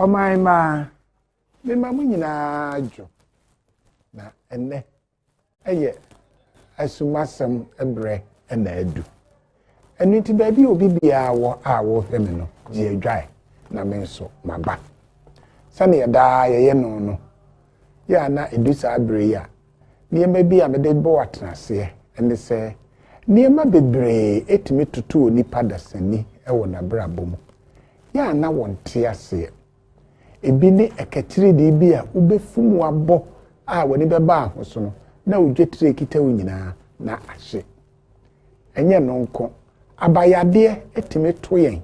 ɔman mmaa mema mo nyinaa dwo na ɛnɛ ɛyɛ asumasɛm brɛ ɛna adu ɛno nti baabi a obi biara wɔ a wɔhwɛ me no gye adwae na me nso maba sɛnea daa yɛyɛ no no Yɛ a na edu saa bere yi a, nneɛma bi a mede bɔ atenaseɛ ne sɛ, nneɛma bebree tumi toto onipa dasani wɔ n'abrabɔ mu. Yɛ a na wɔnte aseɛ. Ebi ne ɛkatiridii bi a wobɛfum abɔ a w'ani bɛba ahosono na odwetire kita wo nyinaa na ahye. Ɛnyɛ no nko, abayadeɛ tumi to yɛn.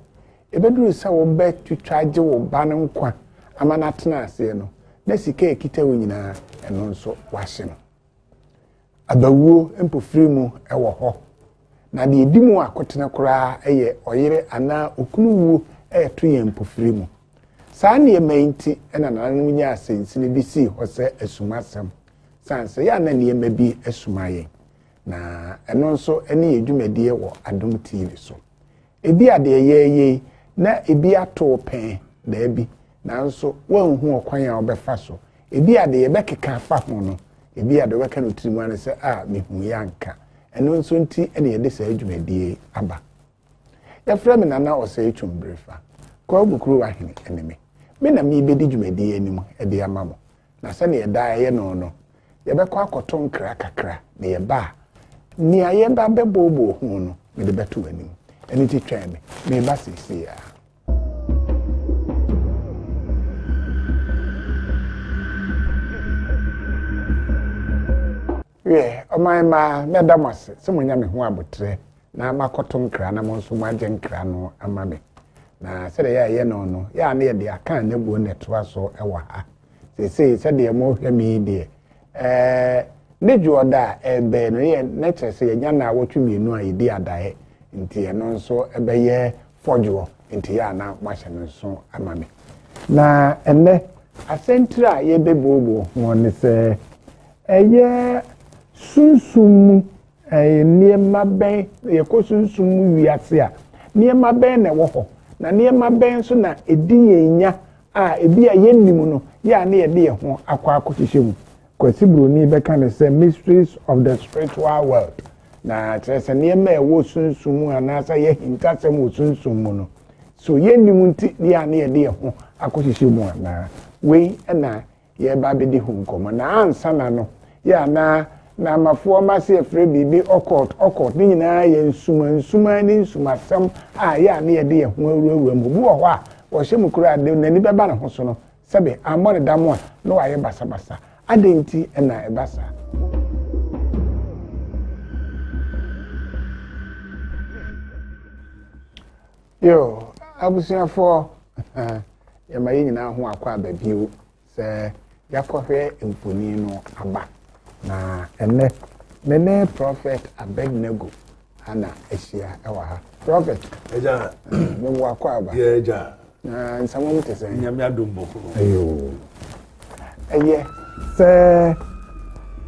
Ɛbɛduru sɛ wobɛtwitwa agye wo ba no nkwa ama no atena aseɛ no, na sika a ɛkita wo nyinaa, ɛno nso wahye no. Abawuo mpofiri mu wɔ hɔ, na deɛ ɛdi mu akotene koraa yɛ ɔyere anaa okunu wuo ɛreto yɛn mpofiri mu. Saa nneɛma yi nti na nananom nyaa asɛnsini de sii hɔ sɛ asumasɛm, sane sɛ yɛ a na nneɛma bi asuma yɛn. na ɛno nso ne yɛ dwumadie wɔ adom tv so ebi a deɛ yɛyɛ yi na ebi ato pɛn daabi nanso wɔnhu ɔkwan a wɔbɛfa so ebi a deɛ yɛbɛkeka afa ho no ebi a deɛ wɔbɛka no tirim ano sɛ a mehu yɛ anka ɛno nso nti ne yɛde saa dwumadie aba Yɛfrɛ me Nana Osei Twumbirefa, Kwagu Kuruwa Hene ne me. Me na merebɛdi dwumadi yi anim de ama mo, na sɛdeɛ ɛdaa ɛyɛ no no, yɛbɛkɔ akɔto nkra kakra na yɛba a, nea yɛba bɛbooboo ho no, mede bɛto w'anim. Ɛno nti twɛn me, mereba seesei ara. Wiɛ, ɔman mma, mɛda mo ase sɛ moanya me ho aboterɛ na moakɔto nkra na mo nso moagye nkra no ama me. Na sɛdeɛ yɛayɛ no no, yɛ a na yɛde aka anabuo na ɛtoa so wɔ ha. Seesei sɛdeɛ mohwɛ me yi deɛ, ɛɛ, ne dwoɔ da a ɛrebɛn no, yɛ, na kyerɛ sɛ yɛanya nna awɔtwe mmienu a yɛdi adaeɛ, nti ɛno nso bɛyɛ fɔdwoɔ, nti yɛ a na moahyɛ no nso ama me. Na ɛnnɛ, asɛntire a yɛrebɛbuoboo ho ne sɛ, Ɛyɛ sunsum mu nneɛma bɛn, yɛkɔ sunsum mu wiase a, nneɛma bɛn na ɛwɔ hɔ, na nneɛma bɛn nso na edi yɛn nya a ebia yennim no, yɛ a na yɛde yɛn ho akɔ akɔhyehyɛ mu? Kwasi Broni bɛka no sɛ Mysteries of the Spiritual World, na kyerɛ sɛ nneɛma a ɛwɔ sunsum mu anaasɛ ɛyɛ ahintasɛm wɔ sunsum mu no, so yennim nti yɛ a na yɛde yɛn ho akɔhyehyɛ mu anaa? Wei na yɛreba abɛdi ho nkɔmmɔ. Na ansa na no, yɛ a na na Amafoɔ wɔn ase afrɛ biribi occult, occult, ne nyinaa yɛ nsuma nsuma ne nsumasɛm a yɛ a na yɛde yɛn ho awurawura mu. Obi wɔ hɔ a, wɔhyɛ mu koraa a, deɛ n'ani bɛba ne ho so no, sɛbe ammɔ no dam a, na wayɛ basabasa. Adɛn nti na ɛba saa? Yo, abusuafoɔ, yɛma yɛn nyinaa ho akɔ aba bio sɛ yɛakɔhwɛ mfoni no aba. Na ɛnɛ, me ne Prɔfɛt Abednego ana ahyia ɛwɔ ha. Prɔfɛt, ɛgya, mo akɔ aba. Yɛ ɛgya. Na nsɛmɔm te sɛ. Nyame adom bɔkɔ. Ayo. ɛyɛ sɛ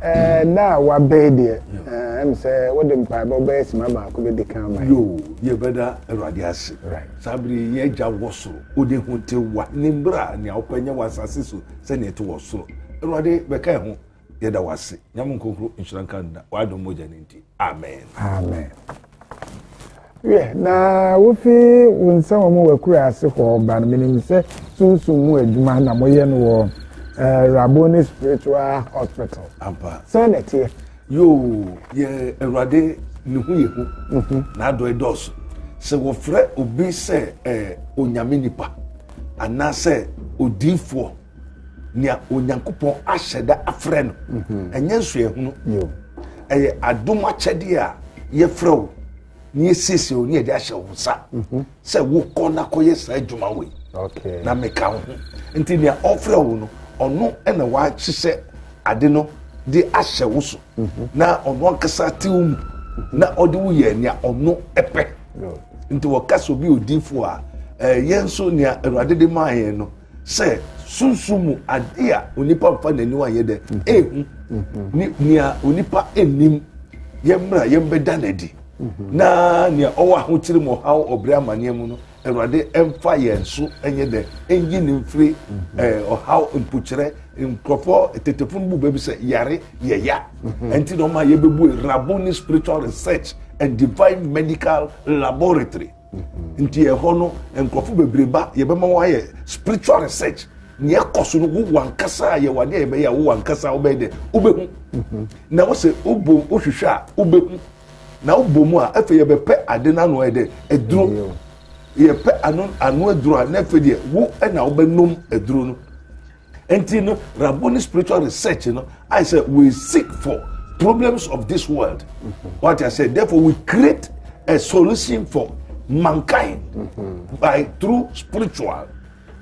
ɛɛ a wabɛɛ deɛ ɛɛ ɛm sɛ wode mpaebɔ bɛyɛ sima baako bɛ di kan ma yi. yoo yɛ bɛ da awurade ase saa bere yɛ agya wɔ soro odi ho te wa ne mbra nea ɔpɛ nyɛ wɔ asase so sɛnea ɛte wɔ soro awurade bɛka ɛho Yɛda wo ase. Nyame nkonkro nhyira nka nna. W'adom mogya no nti. Amen. Amen. Yɛ na wofi wo nsa wɔ mu w'akura ase hɔ ba no menim sɛ sunsum mu adwuma na moyɛ no wɔ eh, Raboni Spiritual Hospital. Ampa. Sɛ na ɛteɛ. Yoo, yɛ Awurade ne ho yɛ hu. Mhm. N'adɔe dɔɔso. Sɛ wɔfrɛ obi sɛ eh, onyame nipa anaasɛ odiifoɔ nea onyankopɔn ahyɛ da afrɛ no mhm. ɛnyɛ nsoɛhunu ɛyɛ adom akyɛdeɛ a yɛfrɛ wo na yɛsiesie wo ne yɛde ahyɛ wo nsa mhm. sɛ wokɔ na kɔyɛ saa adwuma wei na meka wo ho nti nea ɔfrɛ wo no ɔno na wahyehyɛ ade no de ahyɛ wo so mhm. na ɔno ankasa te wo mu na ɔde wo yɛ nea ɔno pɛ nti wɔka sɛ obi odiifoɔ a ɛyɛ nso nea awurade de maa yɛn no sɛ sunsun mu ade a onipa nfa n'aniwa nyɛ dɛ mhm. ehu mhm. ne nea onipa nnim yɛn mmerɛ yɛn bɛda n'adi mhm. na nea ɔwɔ ahokyere mu ɔhaw ɔbrɛ amaneɛ mu no awurade mfa yɛn so nyɛ dɛ nyi ne mfiri ɛɛ ɔhaw mpokyerɛ nkurɔfoɔ tetefo no bu baabi sɛ yare yɛya ɛnti na ɔma yɛbɛbu raboni spiritual research and divine medical laboratory. Mm-hmm. Nti ɛhɔ no nkurɔfo bebree ba yɛbɛma wɔayɛ spiritual research nea ɛkɔ so no wo wankasa a yɛwɔ adeɛ a yɛbɛyɛ a wo wankasa a wobɛyɛ dɛ wobɛhu mm-hmm. na wo sɛ wobɔ wohwehwɛ a wobɛhu na wobɔ mu a afei yɛbɛpɛ ade no ano ayɛ dɛ aduro mm-hmm. yɛpɛ ano ano aduro a na afei deɛ wo na wobɛnom aduro no Nti no Rabboni spiritual research no ayɛ sɛ we seek for problems of this world. Wate aseɛ therefore we create a solution for mankind mm-hmm. by through spiritual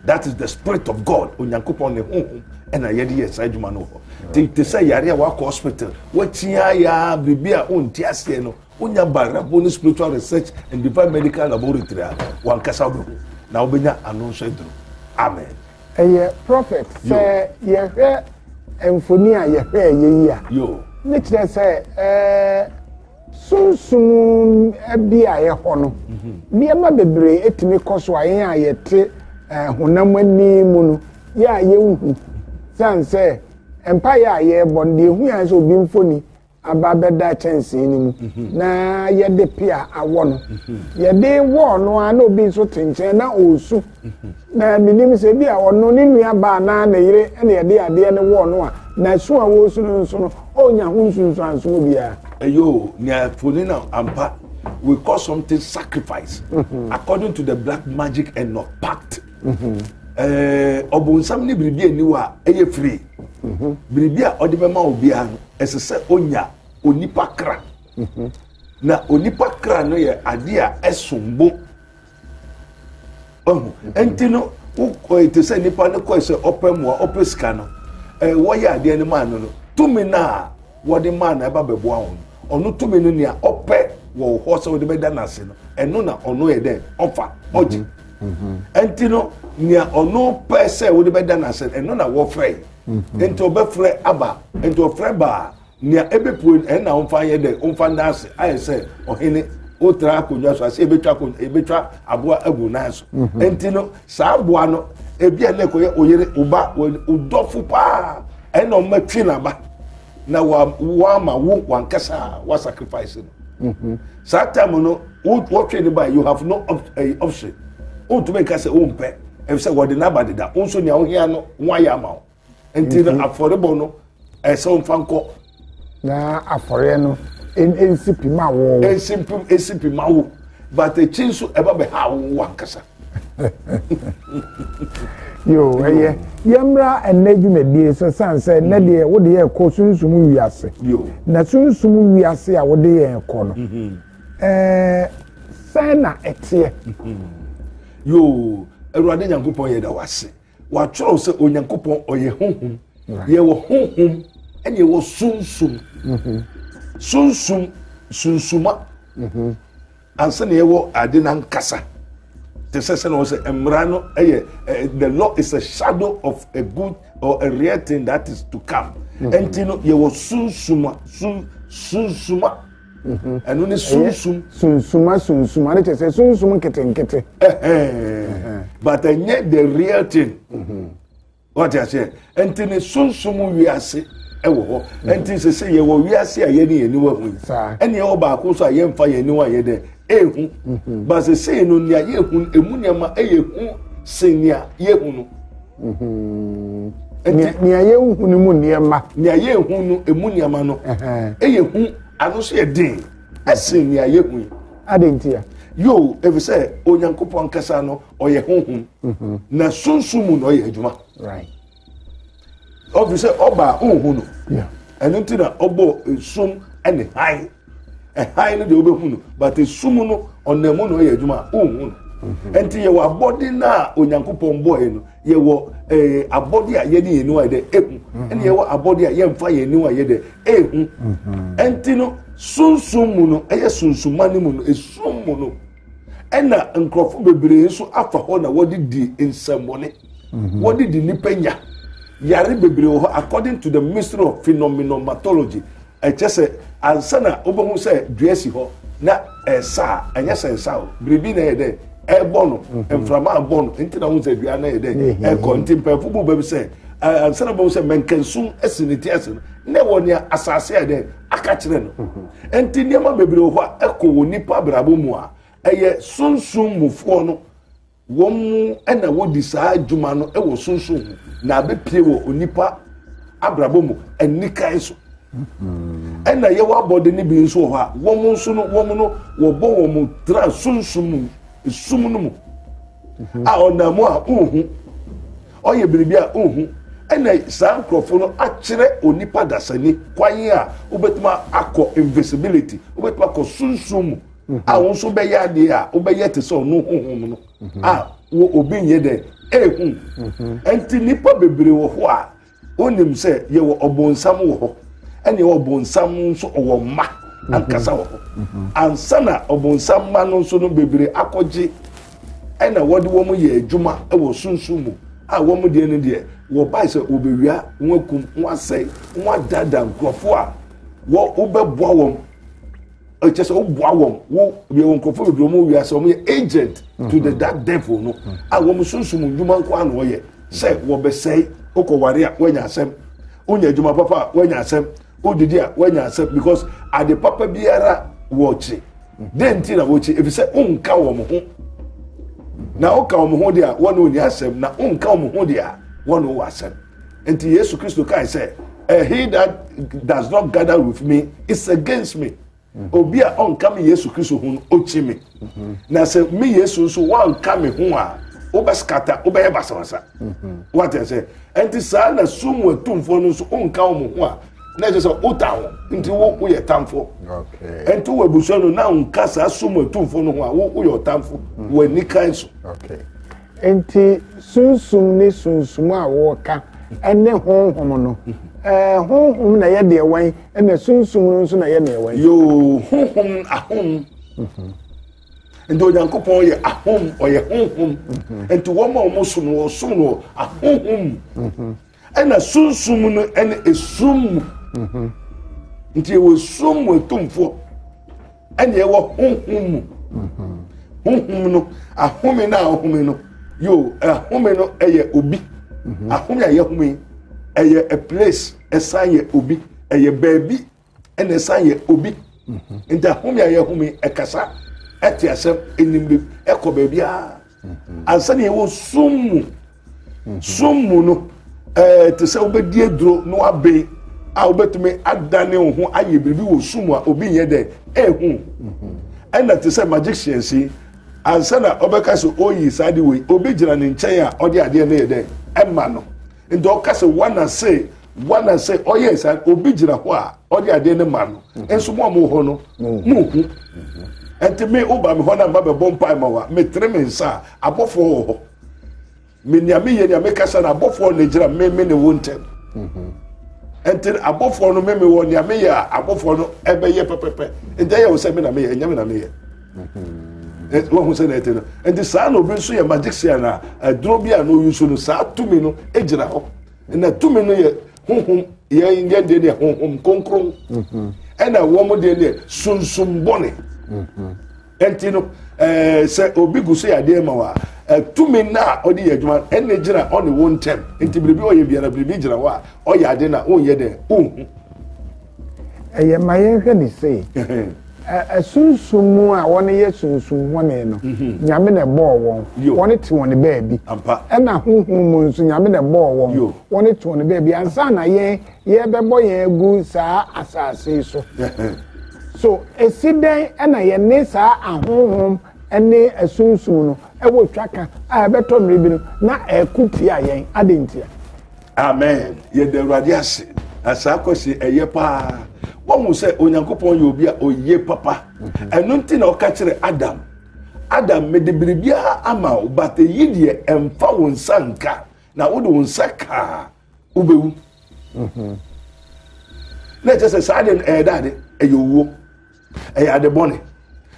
that is the spirit of god onyankopɔn ne honhom ɛna yɛde yɛ saa adwuma no hɔ te te sɛ yare a wakɔ hospital wakyia ya biribi a ɔnti aseɛ no wonya barabo ne spiritual research and divine medical laboratory a wankasa wobɛhu na wobɛnya ano nso aduru amen ɛyɛ prophet sɛ yɛhwɛ mfoni a yɛhwɛ ɛyɛ yi a ne kyerɛ sɛ ɛɛ sunsum bi a ɛhɔ no mhm. nneɛma bebree etumi kɔ so a yɛn a yɛte ɛɛ honam ani mu no yɛ a yɛnhu san sɛ mpaeɛ a yɛrebɔ no deɛ ehu yɛn sɛ obi mfoni. aba abɛda kyɛnsee no mu mhm. na yɛde pea awɔ no mhm. yɛde wɔɔ no a na obi nso te nkyɛn na ɔresu mhm. na menim sɛ bi a ɔno ne nua baa na ne yere na yɛde adeɛ no wɔɔ no a na su a wɔresu no nso no ɔnya ho nsunsuansoɔ biara ɛyɛ nea foni na ampa we call something sacrifice according to the black magic and not pact ɛɛ ɔbɔnsam ne biribi ani wɔ a ɛyɛ firi biribi a ɔde bɛma obiara no ɛsɛ sɛ onya onipa kra na onipa kra no yɛ adeɛ a ɛsom bo ɔho ɛnti no wokɔ ɛte sɛ nipa no kɔɛ sɛ ɔpɛ mmoa ɔpɛ sika no ɛɛ wɔyɛ adeɛ no maa no no tumi no a wɔde maa na ɛba bɛboa wɔn no ɔno tumi no nea ɔpɛ wɔ wo hɔ sɛ wode bɛda no ase no ɛno na ɔno yɛ dɛn ɔfa ɔgye mhm. Mhm. ɛnti no nea ɔno pɛ sɛ wode bɛda no ase ɛno na wɔfrɛ mhm. nti ɔbɛfrɛ aba nti ɔfrɛ baa nea ɛbɛpue no ɛna ɔmfa yɛ dɛn ɔmfa nda ase ayɛ sɛ ɔhene wotra akonnwa so ase ebetwa akonnwa ebetwa aboa agu nan so mhm. nti no Saa aboa no, ebi a na ɛkɔyɛ oyere, oba, odɔfo paa, ɛne na ɔma twi n'aba na wama wo wankasa a wa sacrifice no. Mhm. Saa time no, wɔtwe ne ba, you have no eh, option. Wontumi nka sɛ wompɛ, ɛfisɛ wɔde n'aba deda. Wo nso nea wohia no, wɔayɛ ama wo. nti no afɔrebɔ no ɛsɛ wɔn fa nkɔ. na afɔreɛ no nsi pi ma wo. nsi pi nsi pi ma wo but ekyi nso ɛba bɛ ha wo ankasa. yoo ɛyɛ yɛmmra ɛnna dwumadie sɛ san sɛ ɛnna deɛ mm-hmm. wode yɛ kɔ sunsum wiase na sunsum wiase a wode yɛ kɔ no ɛɛ mm-hmm. eh, sɛn na ɛteɛ. Mm-hmm. yoo awurade nyankopɔn yɛ da wase. Wɔatwerɛ sɛ Onyankopɔn ɔyɛ honhom. Yɛwɔ honhom ɛna yɛwɔ sunsum. Mhm. Sunsum sunsuma mhm. ansa na yɛwɔ ade no ankasa. Te sɛ sɛ na wɔ sɛ mmara no ɛyɛ eh, the law is a shadow of a good or a real thing that is to come. Mhm. Ɛnti no yɛwɔ sunsuma sun sunsuma. Mhm. ɛno ne sunsum. sunsum asunsum ade kyerɛ sɛ sunsum nketenkete. but ɛnyɛ the real thing. Mhm. wɔte aseɛ nti ne sunsum wiase ɛwɔ hɔ mhm. nti sɛ sɛ yɛwɔ wiase a yɛne yɛn niwa hu yi ɛne ɛwɔ baako so a yɛmfa yɛn niwa yɛ dɛ ehu but sɛ sɛ no nea yɛhu emu nneɛma ɛyɛ hu sɛ nea yɛhu no. nea yɛnhu no mu nneɛma nea yɛnhu no ɛmu nneɛma no ɛyɛ hu ano so yɛ den ɛsen nea yɛhu yi ade nti a yoo ɛfiri sɛ onyankopɔn ankasa no ɔyɛ honhom mhm. na sunsum mu na ɔyɛ adwuma ɔfiri sɛ ɔbaa honhu no ɛno nti na ɔbɔ sum ne hann ɛhan no deɛ wobɛhu no but esum no ɔnam mu na ɔyɛ adwuma a wohu no mhm. nti yɛwɔ abɔde no a onyankopɔn bɔɔɛ no yɛwɔ eh, abɔde a yɛne yɛn niwa yɛ dɛ ehu mhm. ɛna yɛwɔ abɔde a yɛmfa yɛn niwa yɛ dɛ ehu mhm. nti no sunsun mu no ɛyɛ sunsunma no mu no esum mu no ɛna nkurɔfo bebree nso afa hɔ na wɔde di nsɛmmɔne mhm. wɔde di nipa nya yare bebree wɔ hɔ according to the ministry of phenomenology ɛkyɛ sɛ ansa na wobɛhu sɛ dua si hɔ na ɛsa a ɛnyɛ sɛ nsa o biribi na ɛyɛ dɛ ɛbɔ no mhm. mframa abɔ no nti na wohu sɛ dua na ɛyɛ dɛ mhm. ɛkɔ nti mpanyinfo bu baabi sɛ ansa na wobɛhu sɛ mɛnkɛnsum asi ne ti ase no na ɛwɔ nea asase a dɛ aka kyerɛ no ɛnti mhm. nneɛma bebree wɔ hɔ a ɛkɔ wɔ nipa abrabɔ mu a ɛyɛ sunsun mufoɔ no wɔn mu ɛna wɔdi saa adwuma no ɛwɔ sunsun mu na abepie wɔ onipa abrabɔ mu ɛnikan so mhm. ɛna yɛwɔ abɔde ne bi nso wɔ hɔ a wɔn nso no wɔn no wɔbɔ wɔn tra sunsun mu esum no mu mhm. a ɔnam a ohu. Ɔyɛ biribi a onhu. Ɛna saa nkorɔfo no akyerɛ onipa dasani kwan a wobɛtumi akɔ invisibility, wobɛtumi akɔ sunsum mu a wo nso bɛyɛ adeɛ a wobɛyɛ te sɛ ɔno honhom no a wo obi nyɛ dɛ ehu. Ɛnti nnipa bebree wɔ hɔ a wonim sɛ yɛwɔ ɔbonsam wɔ hɔ ɛne ɛwɔ ɔbonsam nso ɔwɔ mma ankasa wɔ hɔ. Ansa na ɔbonsam mma no nso no bebree akɔgye ɛna wɔde wɔn yɛ adwuma wɔ sunsun mu a wɔn deɛ no deɛ wɔbae sɛ wɔbɛwia wɔn akum wɔn asɛe wɔn adaadaa nkurɔfoɔ a wɔbɛboa wɔn ɛkyɛ sɛ woboa wɔn wo yɛwɔ nkurɔfoɔ bebree wɔn wia sɛ wɔn yɛ agent to the dark devil no a wɔn sunsun mu nnwuma nko ano wɔyɛ sɛ wɔbɛsɛe wokɔ ware a wɔanya asɛm wonya adwuma papa a wɔanya asɛm wodidi a wɔanya asɛm because ade papa biara wɔkye Dɛn nti na wokyi? Efisɛ wonka wɔn ho. Na woka wɔn ho de a, wɔn ne wɔn asɛm, na wonka wɔn ho de a, wɔn ne wɔn asɛm. Nti Yesu Kristo kae sɛ, eh, He that does not gather with me is against me. Mm-hmm. Obi a ɔnka me Yesu Kristo ho no, okyi me. Mm-hmm. Na sɛ me Yesu nso wɔanka me ho a, wobɛskata, wobɛyɛ basabasa. Mm-hmm. Wate sɛ, ɛnti saa na sum wɔ atumfoɔ no nso, wonka wɔn ho a, na ɛsɛ sɛ wota ho nti wo woyɛ tamfo ɛnti wɔ abusua no na nka saa som atumfo no ho a wo woyɛ ɔtamfo mm. wɔ ani kan so nti sunsum ne sunsum a wɔka ɛne honhom no ɛɛ honhom na yɛ deɛ wɔn ɛna sunsum no nso na yɛ deɛ wɔn. yoo honhom ahom mhm. nti onyankopɔn yɛ ahom ɔyɛ honhom mhm. nti wɔn a wɔn som no wɔn som no ahonhom. Mhm. Ɛna sunsum no ɛne esum mu. Mhm. Nti ɛwɔ esum mu atumfoɔ ɛne ɛwɔ honhom mu. Mhm. Honhom no ahome no a ɔhome no yoo ahome no ɛyɛ obi. Mhm. Ahome a yɛhome ɛyɛ a place ɛsan yɛ obi ɛyɛ baabi. ɛna ɛsan yɛ obi nti ahome a yɛhome ɛkasa ɛte asɛm ɛnim bi ɛkɔ baabi a ansa na yɛwɔ sum mu sum mu no ɛɛ te sɛ wobɛdi aduro na waben a wobɛtumi adane wo ho ayɛ biribi wɔ sum a obi nyɛ dɛ ɛhu ɛna te sɛ magicians yi ansa na ɔbɛka sɛ oyi saa de wei obi gyina ne nkyɛn a ɔde adeɛ no yɛ dɛ ɛma no nti ɔka sɛ wana se wana se ɔyɛ sa obi gyina hɔ a ɔde adeɛ ne ma no mhm. nso mu a mo hɔ no mhm. mo hu mhm. nti me woba me hɔ na mma bɛbɔ mpae ma wa metere me nsa a abɔfoɔ wɔ hɔ me nea meyɛ nea mekasa no abɔfoɔ na gyina me me ne wo ntɛm nti abɔfoɔ no me me wɔ nea meyɛ a abɔfoɔ no ɛbɛyɛ pɛpɛpɛ nti ɛyɛ wo sɛ me na meyɛ ɛnyɛ me na meyɛ wahu sɛ na ɛte no nti saa na obi nso yɛ magician a aduro bi a na oyi so no saa tumi no gyina hɔ na tumi no yɛ honhom yɛn yɛn deɛ deɛ honhom kronkron ɛna wɔn deɛ deɛ sunsun bɔne ɛnti no ɛɛ sɛ obi gu so yɛ adeɛ ma wa tumi no a ɔde yɛ adwuma ɛna gyina ɔne wɔn ntɛm nti biribi ɔyɛ biara biribi gyina hɔ a ɔyɛ ade na ɔnyɛ dɛ ɔnhu. Ɛyɛ ma yɛhwɛ ne sei. Asunsum mu a wɔn yɛ sunsum hɔne no, mhm. Nyame na ɛbɔɔ wɔn. Wɔn te wɔn baabi. Ɛna huhu mu nso Nyame na ɛbɔɔ wɔn. Wɔn te wɔn baabi. Ansa na yɛn yɛbɛbɔ yɛn agu saa asaase so. So esi dɛn ɛna yɛne saa ahohom ɛne asunsum no ɛwɔ twaka a ɛbɛtɔ mmiri bi no na ɛko tia yɛn adi ntia. amen yɛda awurade ase na saa kwasi ɛyɛ paa wɔhu sɛ onyankopɔn yɛ obi a ɔyie papa mhm. ɛno nti na ɔka kyerɛ adam adam mede biribiara ama wo but ɛyi deɛ ɛmfa wo nsa nka na wode wo nsa kaa wobɛwu mhm. na ɛkyɛ sɛ saa deɛ ɛyɛ dade ɛyɛ owuo ɛyɛ ade bɔne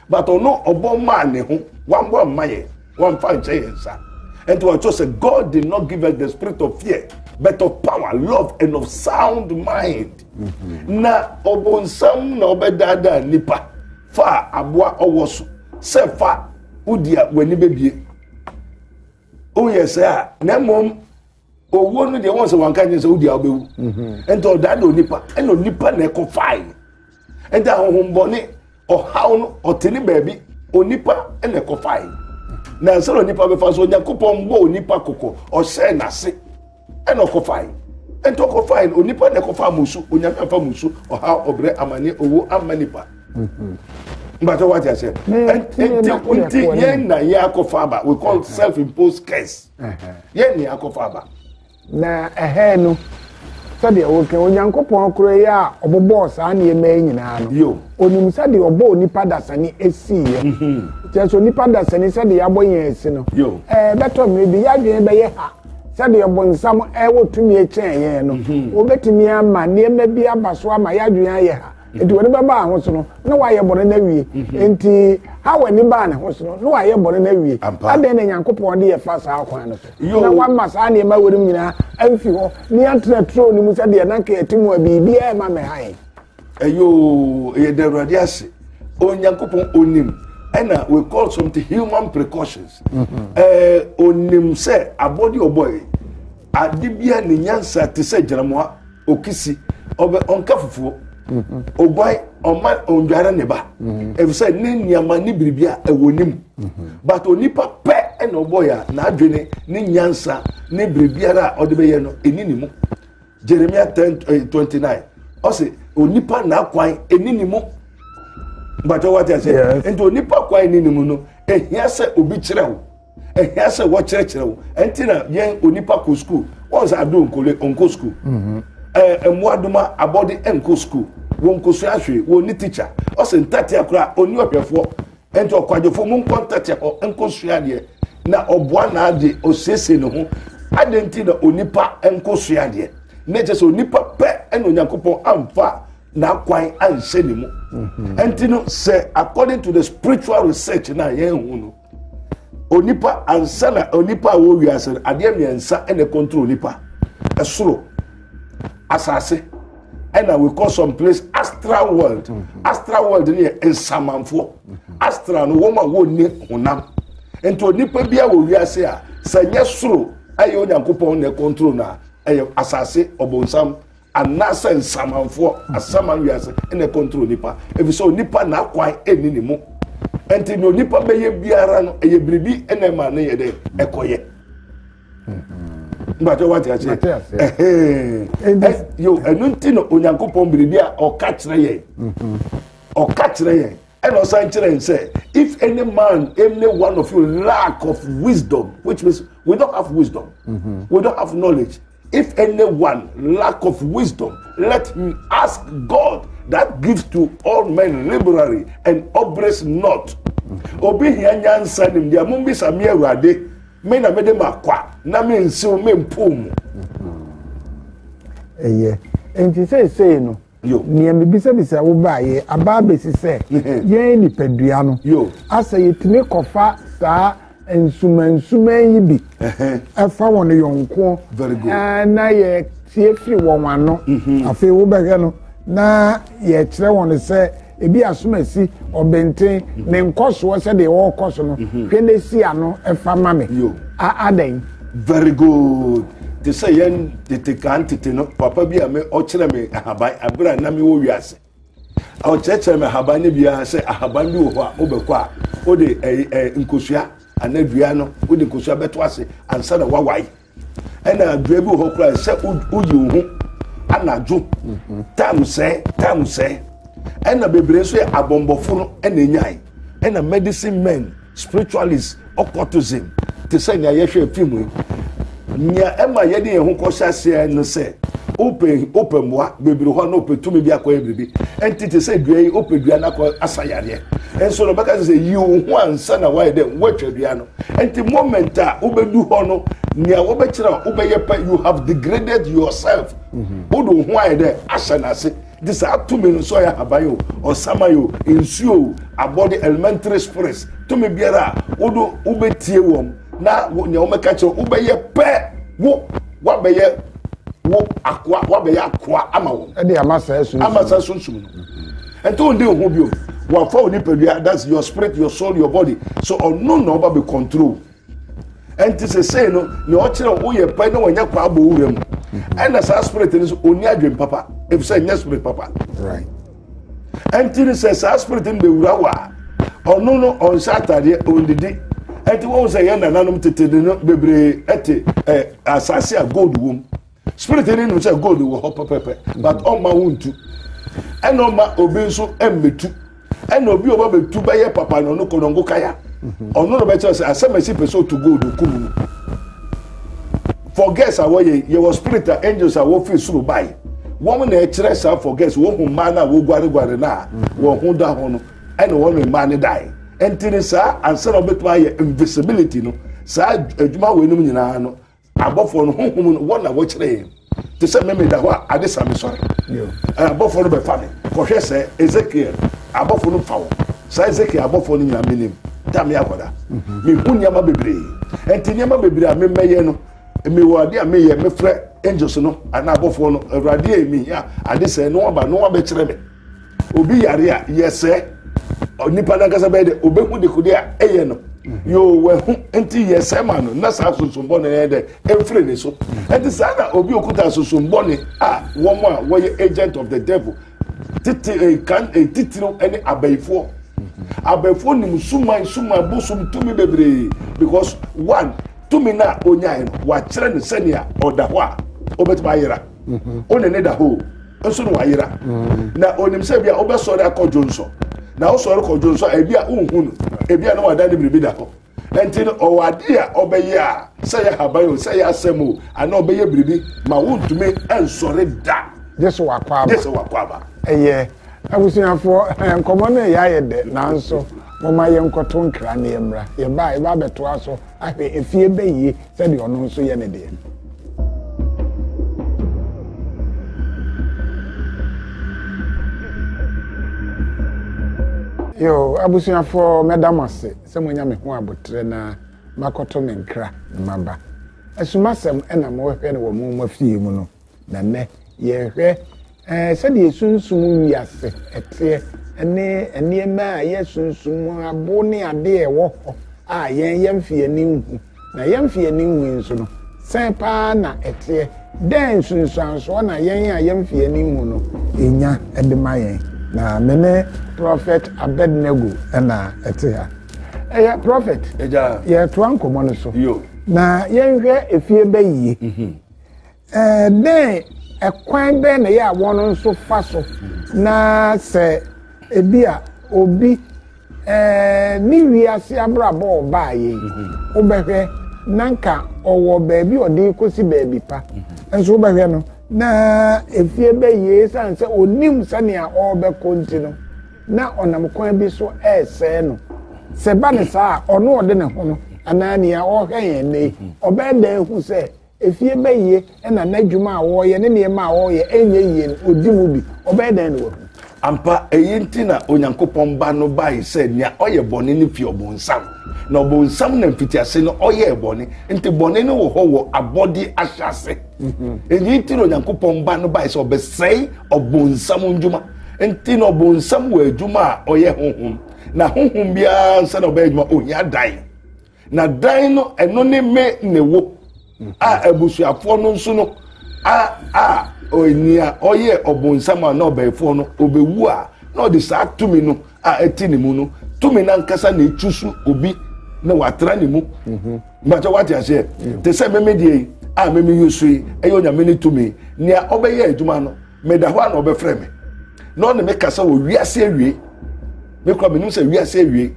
but ɔno ɔbɔ maa ne ho wambɔ amma yɛ wamfa nkyɛ yɛn nsa ɛnti wɔkyerɛ sɛ god did not give us the spirit of fear but of power love and of sound mind mm-hmm. na ɔbɔnsam na ɔbɛdaadaa nipa fa aboa ɔwɔ so sɛ fa wodi a w'ani bɛbie woyɛ sɛ a na mmom owuo no deɛ wɔn sɛ wɔn ka nyɛ sɛ wodi a wobɛwu mhm. nti ɔdaa de onipa ɛna onipa na ɛkɔ fae nti ahohombɔne ɔhaw no ɔte ne baabi onipa ɛna ɛkɔ fae na ɛsɛ na onipa bɛfa so onyankopɔn bɔ onipa kɔkɔ ɔhyɛ n'ase ɛna ɔkɔ fae nti ɔkɔ fae no onipa na ɛkɔ fa amusu onyame afa amusu ɔhaw ɔbrɛ amane owo ama nipa mhm. mbata wate aseɛ nti nti yɛn na yɛ akɔ fa aba we call self imposed curse. yɛn ni akɔfa aba. Na ɛhɛɛ no, sɛdeɛ woka, Onyankopɔn koro yɛ a ɔbobɔɔ saa nneɛma yi nyinaa no, onim sɛdeɛ ɔbɔɔ nipa dasani esiiɛ. Mhm. Kyerɛ sɛ onipa dasani sɛdeɛ yɛabɔ yɛn asi no, ɛɛ bɛtɔ mmerɛ bi yɛadwene bɛyɛ ha sɛdeɛ bonsam ɛwɔ tumi kyɛn yɛn no, mhm. obetumi ama nneɛma bi aba so ama yɛadwene ayɛ ha. nti wɔn ba baa ho so no na wɔayɛ bɔne no awie mhm. nti hawa ni baa ne ho so no na wɔayɛ bɔne no awie adɛn na nyankopɔn de yɛfa saa kwan no so na wama saa nneɛma wɔ no mu nyinaa amfi hɔ ne yɛntena turo no mu sɛ deɛ na nka yɛte mu a biribiaa ɛma me hae ɛyɛ yɛda awurade ase onyankopɔn onim ɛna we call something human precautions mhm. eh, onim sɛ abɔde ɔbɔe Ade biara ne nyansa te sɛ gyinamoa, okisi, ɔbɛ, ɔnka fufuo, oguan, ɔma ɔndware ne ba, efisɛ mm-hmm. ne nneɛma ne biribi a ɛwɔ ne mu. Mm-hmm. But onipa pɛ ɛna ɔbɔ yɛ a n'adwene ne nyansa ne biribiara a ɔde bɛyɛ no ɛni ne mu. Jeremia ten eh, twenty nine ɔsi onipa n'akwan ɛni ne mu. Bàtɛ wá ti ase. Nti onipa kwan ɛni ne mu no, ehia sɛ obi kyerɛ o. ɛhia sɛ wɔkyerɛkyerɛ wo ɛnti na yɛn onipa kɔ sukuu wɔn sɛ ado nkole nkɔ sukuu mhm. ɛɛ mmoadoma abɔde nkɔ sukuu wɔn nkosua ahwee wɔn ni tikya ɔsɛ ntatea koraa ɔni ɔhwɛfoɔ ɛnti ɔkwadwofoɔ mu nkɔ ntatea hɔ nkɔ sua adeɛ na ɔboa n'adeɛ ɔsiesie ne ho adeɛ nti na onipa nkɔ sua adeɛ ne kyɛ sɛ onipa pɛ ɛna onyankopɔn amfa n'akwan anhyɛ ne mu ɛnti mhm. no sɛ according to the spiritual research na yɛn ho no. onipa ansa na onipa a wɔwɔ wiase no adeɛ mmiɛnsa na ɛkɔntoro onipa ɛsoro asase ɛna we call some place astral world mm-hmm. astral world no yɛ nsamanfoɔ mm-hmm. astral no wɔn a wɔnni honam nti onipa bi a wɔ wiase a sɛ nyɛ soro ɛyɛ onyankopɔn na ɛkɔntoro na ɛyɛ asase ɔbɔnsam Anaasɛ nsamanfoɔ, asaman wiase, na ɛkɔntoro onipa, ɛfiri sɛ onipa n'akwan nni ne mu. Ɛnti deɛ onipa bɛyɛ biara no, ɛyɛ biribi na ɛma ne yɛ dɛ ɛkɔyɛ. Mbakyɛ mm-hmm. wate aseɛ. Ɛhɛn. Yo, ɛno nti na Onyankopɔn biribi a ɔka kyerɛ yɛn. Mm-hmm. Ɔka kyerɛ yɛn. Ɛna ɔsan kyerɛ n sɛ if any man any one of you lack of wisdom which means we don't have wisdom mm -hmm. we don't have knowledge if any one lack of wisdom let him ask God that gives to all men liberally and upbraids not mm-hmm. obi hia nyansa nim deɛ mo mbisa mi awurade me na mede ma kwa na me nsiw me mpo mu. Mm-hmm. ɛyɛ nti seesei no. Yo. Nea mebisabisa wo baeɛ aba abɛsi sɛ yɛn nipadua no Yo. asɛ yɛtumi kɔfa saa nsumansuman yi bi ɛfa wɔn yɔnko Very good. ɛɛ, na yɛtie firi wɔn ano. Afei wobɛhwɛ no na yɛkyerɛ wɔn sɛ ebi asomasi ɔbɛnten ne nkɔsoɔ sɛdeɛ ɔrekɔ so no mhm. hwɛ no si ano fa ma me adɛn very good te sɛ yɛn tete kan tete no papa bi a me ɔkyerɛ me ahaban abere a na me wɔ wiase ɔkyerɛkyerɛ me ahaban no biara sɛ ahaban bi wɔ hɔ a wobɛkɔ a wode ɛɛ nkosua anaa dua no wode nkosua bɛto ase ansa na wawae Ɛna adua bi wɔ hɔ koraa sɛ woyi wo ho anadwo mhm. tam sɛɛ tam sɛɛ ɛna bebree nso yɛ abɔnbɔfo no ɛna enyae ɛna medicine men spiritualist occultism te sɛ nea yɛhwɛ fim yi nea ɛma yɛde yɛn ho kɔhyɛ aseɛ no sɛ wopɛ wopɛ mmoa bebree hɔ na wopɛ tumi bi akɔyɛ biribi ɛnti te sɛ dua yi wopɛ dua no akɔ asa yareɛ nso na ɔbɛka sɛ yi wo ho ansa na wayɛ dɛ woatwa dua no Nti moment a wobɛdu hɔ no nea wɔbɛkyerɛ a wobɛyɛ pɛ you have degraded yourself mm-hmm. wode wo ho ayɛ dɛ ahyɛ no ase nti saa tumi no sɛ ɔyɛ ahaban o ɔsaman o nsuo o abɔde elementary spirits tumi biara a wode wobɛtie wɔm na nea wɔbɛka kyerɛ wobɛyɛ pɛ wo wabɛyɛ wo akoa wabɛyɛ akoa ama wɔn ɛde ama saa sunsum ama saa sunsum no mm-hmm. Ɛnti wo ndi oho biom. Wafa wo nipadua, that's your spirit, your soul, your body. So ɔno na ɔba bɛ control. Ɛnti sesei no, ne ɔkyerɛ wo yɛ pɛ na wanya kwa abɔ wura mu. Ɛna saa spirit no so ɔni adwen papa, efisɛ nyɛ spirit papa. Right. Ɛnti no sɛ saa spirit no bɛwura wo a, ɔno no ɔnhyɛ atadeɛ, ɔndidi. Ɛnti wɔn sɛ yɛn nananom tete no bebree ɛte ɛ asase a gold wom. Spirit no nim sɛ gold wɔ hɔ pɛpɛpɛ but ɔmma wo ntu ɛna ɔmma obi nso mmetu ɛna obi ɔba betu bɛyɛ papa na ɔno kɔnɔngo kaya mhm. ɔno na ɔbɛkyerɛ sɛ asɛm ɛsi pɛ sɛ ɔtu gold okum no forgets a wɔyɛ yɛwɔ spirit a angels a wɔfiri soro bae wɔn na ɛkyerɛ saa forgets wɔn ho mmaa no a wɔguareguare no a mhm. wɔn ho da ho no ɛna wɔn mmaa no dae ɛnti ne saa ansa na wɔbɛtumi ayɛ invisibility no saa adwuma wɔ anim nyinaa no abɔfoɔ no honhom no wɔn na wɔkyerɛ yɛn te sɛ mɛmɛ da hɔ a ade sa me sɔre abɔfoɔ no bɛfa me kɔhwɛ sɛ ezekiel abɔfoɔ no fa wo saa ezekiel abɔfoɔ no nyinaa menim da me akɔda mhm. mehu nneɛma bebree ɛnti nneɛma bebree a memɛyɛ no mewɔ ade a meyɛ mefrɛ angels no anaa abɔfoɔ no awurade a ɛmihia ade sɛ no aba no abɛkyerɛ me obi yare a yɛsrɛ onipa no ankasa bɛyɛ dɛ ɔbɛhu dekode a ɛyɛ no yɛɔ wahu nti yɛsrɛ ma no na saa sosombɔ no yɛ dɛ ɛmfiri ne so ɛnti saa na obi okuta sosombɔ ne a wɔn a wɔyɛ agent of the devil tete eh, kan eh, titiriw ne abayifoɔ abayifoɔ nim suman suman bosom tumi bebree because one tumi no a ɔnyae no wakyerɛ no sɛnea ɔda hɔ a ɔbɛtumi ayera ɔne ne da hɔ o nso na wayera mm. na onim sɛ ebia wobɛsɔre akɔ dwonsɔ na wosɔre kɔ dwonsɔ a ebia wonhu no ebia na wada ne biribi da hɔ nti no ɔwɔ adeɛ a ɔbɛyɛ a sɛ yɛ haban o sɛ yɛ asɛm o anaa ɔbɛyɛ biribi ma wontumi nsɔre da gye sɛ wakɔ aba gye sɛ wakɔ aba ɛyɛ abusuafoɔ eh, nkɔmmɔ no ɛyɛ ayɛ dɛ nanso moma yɛnkɔto nkra ne yɛmmra yɛba yɛba abɛtoa so Ahwɛ efie bɛ yie sɛdeɛ ɔno nso yɛ ne deɛ. Yo, abusuafoɔ mɛda mo ase sɛ moanya me ho aboterɛ na makɔto me nkra maba. Asumasɛm na mohwɛ no wɔ mo mo afie mu no, Na nnɛ, yɛhwɛ sɛdeɛ sunsum wiase teɛ ne nneɛma a ɛyɛ sunsum mu abo ne adeɛ a ɛwɔ hɔ a yɛn yɛn mfe ani nhu. Na yɛn mfe ani nhu yi nso no, sɛn paa na ɛteɛ? Dɛn nsunsuansoɔ na yɛn a yɛn mfe ani nhu no ɛnya de ma yɛn? Na me ne Prɔfɛt Abednego na ɛte ha. Ɛyɛ prɔfɛt. Yɛtoa nkɔmmɔ no so. Na yɛnhwɛ efie bɛyie. Mhm. Dɛn ɛkwan bɛn na ɛyɛ a wɔn nso fa so na sɛ ebi a obi ne wiase abrabɔ a ɔbaeɛ yi wobɛhwɛ na nka ɔwɔ baabi a ɔde kɔsi baabi pa nso wobɛhwɛ no na efie bɛyɛ esiane sɛ onim sɛnea ɔrebɛkɔ nti no na ɔnam kwan bi so ɛresɛe no sɛ ba ne saa a ɔno ɔde ne ho no anaa nea ɔhwɛ yɛn nnɛ ɔbɛyɛ dɛn hu sɛ Efie bɛyɛ na n'adwuma a ɔreyɛ ne nneɛma a ɔreyɛ nyɛ yie no, ɔdi mu bi. Ɔbɛyɛ dɛn na wahu? Ampa, eyi nti na Onyankopɔn Ba no bae sɛ nea ɔyɛ bɔne no fi Ɔbonsam, na Ɔbonsam na mfitiase no ɔyɛɛ bɔne. Enti bɔne no wɔ hɔ wɔ abɔde ahyɛase. Eyi nti na Onyankopɔn Ba no bae sɛ ɔbɛsɛe Ɔbonsam nnwuma. Enti na Ɔbonsam wɔ adwuma a ɔyɛ honhom, na honhom biara ansa na ɔbɛyɛ adwuma, ohia dan. Na dan no ɛno ne me ne wo a abusuafoɔ no nso no a a nea ɔyɛ ɔbonsam a na ɔbɛnfoɔ no ɔbɛwu a na ɔde saa tumi no a ɛte ne mu no tumi no ankasa na ɛtu so obi na watena ne mu mhm. mbatɛ wate aseɛ te sɛ meme deɛ yi a meme yi so yi ɛyɛ onyame ne tumi nea ɔbɛyɛ adwuma no meda hɔ a na ɔbɛfrɛ me na ɔne me kasa wɔ wiase awie me kura menim sɛ wiase awie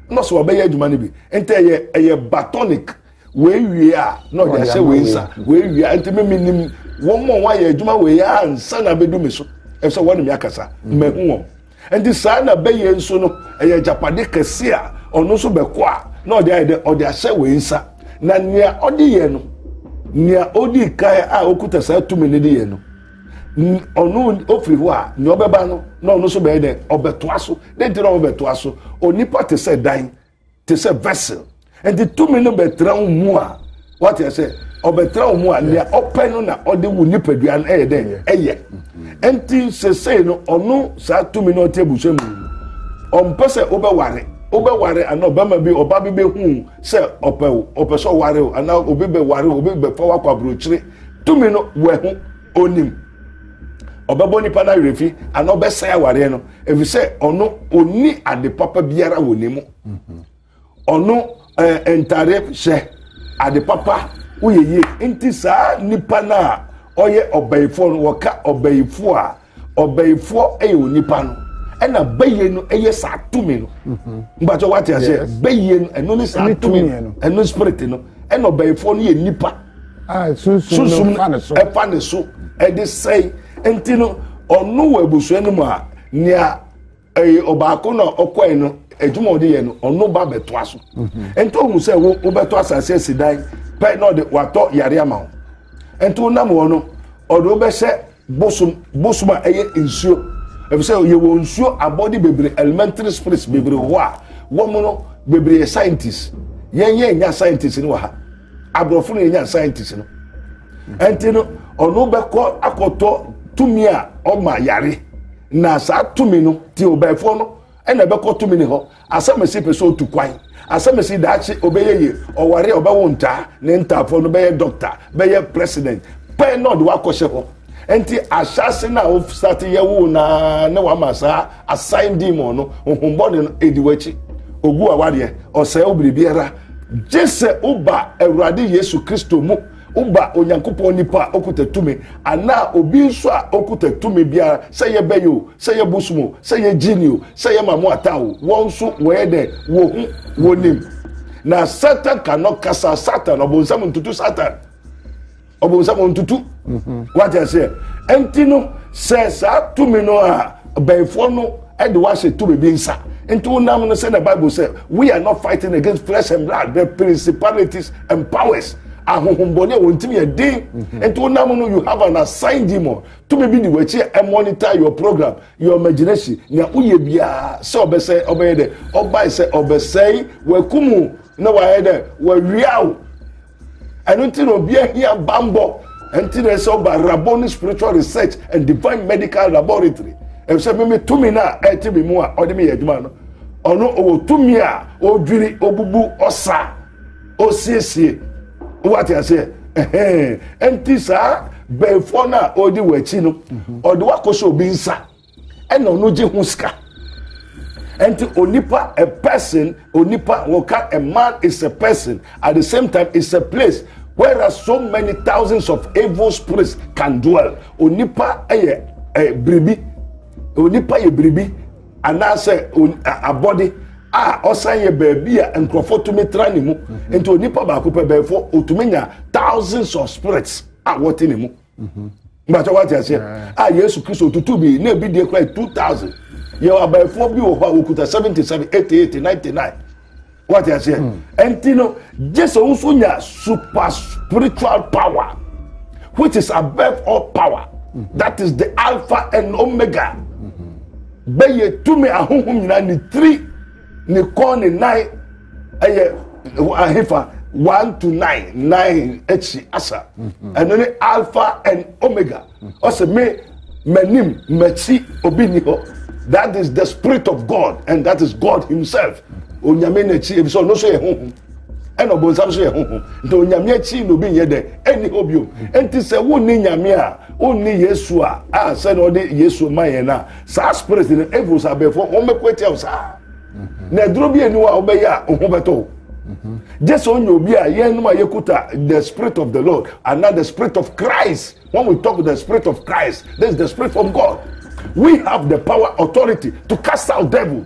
na ɔsɛ ɔbɛyɛ adwuma no bi nti ɛyɛ ɛyɛ batonic wei wie a na ɔde ahyɛ wei nsa wei wie a nti me menim wɔn a wɔayɛ adwuma wei ansa na abɛdu me so ɛsɛ wɔne me akasa mmahu wɔn Nti saa na bɛyɛ nso no ɛyɛ agyapade kɛse a ɔno nso bɛkɔ a na ɔde ayɛ dɛ ɔde ahyɛ wei nsa na nea ɔde yɛ no nea odi kan a okuta saa tumi no de yɛ no ɔno ofiri hɔ a nea ɔbɛba no na ɔno nso bɛyɛ dɛ ɔbɛtoa so de nti na ɔbɛtoa so onipa te sɛ dan te sɛ vessel nti tumi no bɛtena wo mu a wate sɛ ɔbɛtena wo mu a nea ɔpɛ no na ɔde wo nipadua no ɛyɛ dɛ ɛyɛ nti sesei no ɔno saa tumi no ɔte abusua mu ɔmpɛ sɛ wobɛware wobɛware anaa ɔbɛma bi ɔba bi bɛhu sɛ ɔpɛ wo ɔpɛ sɛ ɔware wo anaa obi bɛware wo obi bɛfa wo akɔ aburokyire tumi no wɔ ɛho onim ɔbɛbɔ nipa no awerɛfi anaa ɔbɛsɛe awareɛ no ɛfiri sɛ ɔno ɔnni ade papa biara wɔ ne mu ɔno eh, ntare hyɛ ade papa woyɛ yie nti saa nipa no a ɔyɛ ɔbɛyifoɔ no wɔka ɔbɛyifoɔ a ɔbɛyifoɔ yɛ onipa no ɛna bɛyie no yɛ saa tumi no mbatɛ wate aseɛ bɛyie no ɛno ne saa tumi no ɛno spirit no ɛna ɔbɛyifoɔ no yɛ nipa a sunsum no fa ne so ɛfa ne so ɛde sɛe nti no ɔno wɔ abusua no mu a nea ɛyɛ ɔbaako na ɔkɔɛ no adwuma ɔde yɛ no ɔno ba bɛtoa so mhm. nti ohun sɛ wo wobɛtɔ asase asi dan pɛ na ɔde watɔ yare ama wo nti wonam wɔ no ɔde wobɛhyɛ bosom bosom a ɛyɛ nsuo efisɛ yɛwɔ nsuo abɔde bebree elementary spirits bebree hɔ a wɔn no bebree yɛ scientists yɛn yɛn nya scientists no wɔ ha. aborɔfo no yɛnya scientist no ɛnti no ɔno bɛkɔ akɔtɔ tumi a ɔma yare na saa tumi no ti ɔbɛɛfoɔ no ɛna ɛbɛkɔ tumi ne hɔ asɛmɛsi pɛ sɛ ɔtu kwan asɛmɛsi daakye ɔbɛyɛ yie ɔware ɔbɛwo ntaa ne ntaafoɔ no bɛyɛ dɔkta bɛyɛ president pɛn na ɔde wakɔhyɛ hɔ Enti ahyɛase no a wosate yɛ wo no ara ne wama saa asan demon no honhom bɔne no edi w'akyi. Ogu awareɛ, ɔsɛe wo biribiara. Gye sɛ woba Awurade Yesu Kristo mu, woba Onyankopɔn nipa a okuta tumi anaa obi nso a okuta tumi biara, sɛ yɛ bɛyɛ o, sɛ yɛ bosom o, sɛ yɛ gyini o, sɛ yɛ mamu ata o, wɔn nso wɔyɛ dɛ, wɔhu, wɔnim. Na Satan ka no kasa, Satan, ɔbonsam ntutu Satan. ɔbonsam ɔntutu wate aseɛ ɛnti no sɛ saa tumi no a bɛyifoɔ no ɛde wahyɛ tumi bi nsa nti wonam no sɛ na bible sɛ we are not fighting against flesh and blood but principalities and powers ahohombɔne a wɔn ntumi yɛ den nti wonam no you have an assigned demon tumi bi di w'akyi a ɛmonitor your program your imagination nea woyɛ biara sɛ ɔbɛsɛ ɔbɛyɛ dɛ ɔbae sɛ ɔbɛsɛe wakumu na wayɛ dɛ wawiaw ɛno nti na obi ahia bammɔ ɛnti na ɛsɛ ɔba raboni spiritual research and divine medical laboratory ɛsɛ mimi tumi no a ɛte me mu a ɔde me yɛ adwuma no ɔno ɔwɔ tumi a ɔdwiri ɔbubu ɔsa ɔsiesie wate aseɛ ɛhɛn ɛnti saa bɛɛfoɔ no a ɔdi wɔ akyi no ɔde wakɔ sɛ obi nsa ɛna ɔno gye ho sika ɛnti onipa a person onipa wɔka a man is a person at the same time is a place where are so many thousands of evil spirits can dwell onipa ɛyɛ ɛ biribi onipa yɛ biribi anaasɛ abɔde a ɔsan yɛ baabi a nkurɔfoɔ tumi tra ne mu nti onipa baako pɛ bɛɛfo otumi nya thousands of spirits a wɔte ne mu. bàtà wà ti ase a yesu kristo tutu bi na ebi deɛ kura two thousand yɛ abayifoɔ bi wɔ hɔ a wɔkuta seventy seven eighty eight ninety nine wà ti ase ɛnti no jesu nso nya super spiritual power which is above all power that is the alpha and omega bɛyɛ tumi ahohom nyinaa ne tiri. ne kɔn ne nan ɛyɛ ahefa one to nine nine akyi asa mhm. ɛno ne alpha and omega ɔsɛ me m'anim m'akyi obi ni hɔ that is the spirit of god and that is god himself onyame n'akyi ebi sɛ ɔno nso yɛ honhom ɛna ɔbɔnsam nso yɛ honhom nti onyame akyi na obi nyɛ dɛ ɛni hɔ bio nti sɛ wonni nyame a wonni yesu a a sɛ na ɔde yesu ma yɛn a saa spirit no evil sa abɛɛfo wɔn bɛko atia wo saa na ɛduro bi eni hɔ a wobɛyɛ a ho bɛtɔ wo gye sɛ ɔnyɛ obi a yɛnom a yɛkuta the spirit of the lord and not the spirit of christ when we talk the spirit of christ this is the spirit of god we have the power authority to cast out devil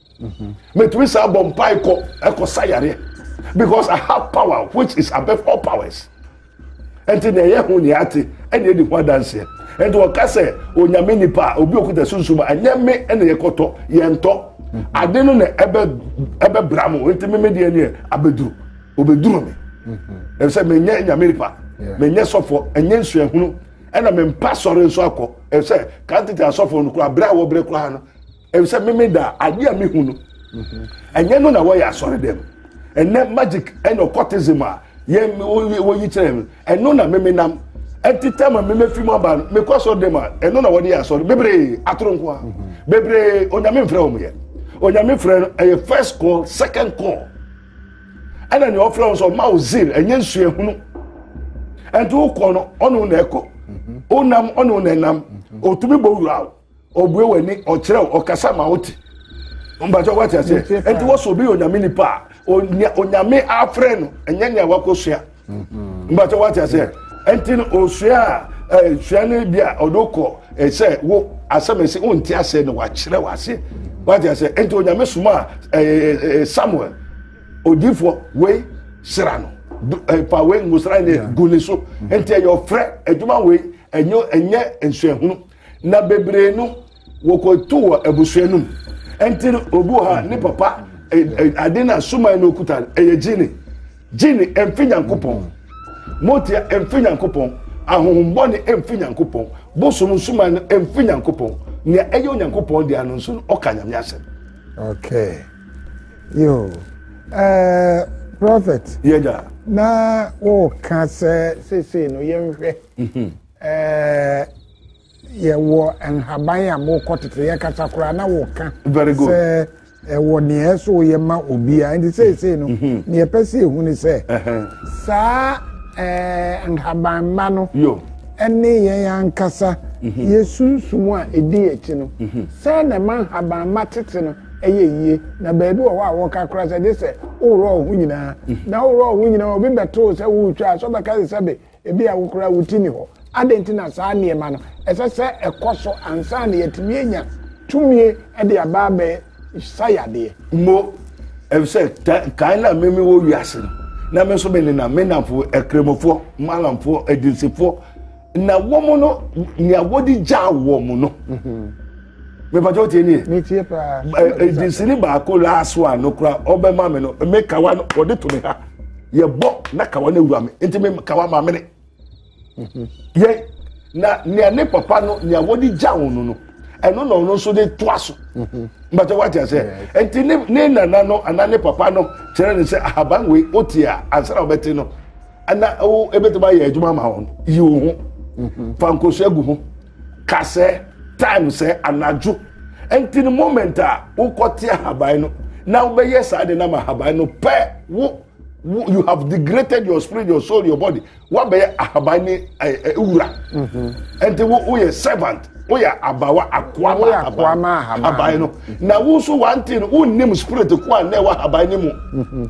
mɛtumi saa bɔ mpa ɛkɔ ɛkɔ sa yareɛ because i have power which is above all powers ɛnti na ɛyɛ ho nea ate ɛna ɛdi ho adanseɛ ɛnti wɔka sɛ onyame nipa a obi okuta sunsun mu ɛnyɛ me ɛna yɛkɔtɔ yɛntɔ ade no na ɛbɛ ɛbɛ bra mo ɛnti me me deɛ neɛ abɛduru obɛduru me ɛsɛ menyɛ nyame nipa menyɛ sɔfo ɛnyɛ nsuahunu ɛna mempa sɔre nso akɔ ɛsɛ kan tete asɔfo no kora berɛ a wɔbrɛ koraa no efisɛ meme da adeɛ a mehu no ɛnyɛ no na wɔyɛ asɔre dɛm ɛnɛ magic ɛna occultism a yɛn wɔyi kyerɛ no ɛno na meme nam ɛnti tɛm a meme fi mu aba no mekɔ asɔre dɛm a ɛno na wɔde yɛ asɔre bebree atoro nko a bebree onyame mfrɛ wɔn yɛ onyame frɛ no ɛyɛ first call second call ɛna nea ɔfrɛ wɔn sɛ ɔma wo zeal ɛnyɛ nsuahunu ɛnti wokɔ no ɔno na ɛkɔ wonam ɔno na ɛnam ɔtumi bɔ wura wo ɔbue w'ani ɔkyerɛ wo ɔkasa ma wote mpakyɛ woate aseɛ ɛnti wɔ sɛ obi yɛ onyame nipa a onyame afrɛ no ɛnyɛ nea wakɔsua mm-hmm. mpakyɛ woate aseɛ ɛnti no ɔsua a sua no bi a ɔde kɔ sɛ wo asɛm ɛsi wonte aseɛ no wakyerɛ wo aseɛ woate aseɛ ɛnti onyame soma a samuel odifoɔ wei sera no pa wei ngosra ne gu ne so ɛnti ɛyɛ ɔfrɛ adwuma wei ɛnyɛ nsuahunu na bebree no wɔkɔto wɔ abusua no mu ɛnti no obi wɔ ha ne papa ade no a suman no okuta no ɛyɛ gyini gyini ɛmfi nyankopɔn motia ɛmfi nyankopɔn ahohombɔne ɛmfi nyankopɔn bosom nsuman no ɛmfi nyankopɔn nea ɛyɛ onyankopɔn deɛ no nso no ɔka nyame asɛm okay yo uh, prophet yɛgya na wɔka sɛ seesei no yɛnhwɛ mhm. Eh, yɛwɔ nhaban a mokɔ tete yɛkasa koraa na woka sɛ ɛwɔ nea ɛso yɛ ma obiara nti seesei no mhm. nea ɛpɛ sɛ ɛhu ne sɛ saa eh, nhabanma no ɛne yɛn ankasa mhm. yɛsunsum a ɛdi akyi no mhm. sɛ na ɛma nhabanma tete no ɛyɛ yie na baabi wɔ hɔ a wɔka kora sɛ gye sɛ woworɔ wo ho nyinaa na woworɔ wo ho nyinaa obi bɛtoo sɛ woretwa a sɛ ɔbɛka sɛ sɛbe Ebia wo koraa wo ti nni hɔ. Adɛn nti na saa nneɛma no ɛsɛ sɛ ɛkɔ so ansa na yɛatumi anya tumi de aba abɛsa yadeɛ? Mo, efisɛ kan na me me wɔ wiase no, na me nso me nenam me nnamfo akremofoɔ, malamfoɔ, adinsifoɔ, na wɔn no nea wɔde gyaa wɔn no. Mm-hmm. mepatɛ o tie nie. mi tie paa. ɛdinsini baako last one no kura ɔbɛ ma mi no mi kawa no ɔde to mi ha yɛ bɔ na kawa no ewura mi nti mi kawa ma mi ne yɛ na nea ne papa no nea wɔde gya wɔn no no ɛno na ɔno nso de to aso mbata wate ase nti ne ne nana no ana ne papa no kyerɛ ne sɛ ahaban wei o tie a ansa na ɔbɛte no ɛna o ebetuma yɛ adwuma ma wɔn yi wɔn ho fa nkoso egu ho. ka sɛ time sɛ anadwo nti no moment a wokɔte ahaban no na wobɛyɛ saa de nam ahaban no pɛ wo you have degraded your spirit your soul your body wabɛyɛ ahaban ne wura nti woyɛ servant woyɛ abawa akoa ma ahaban no na wo nso wante no wonnim spirit ko a na ɛwɔ ahaban no mu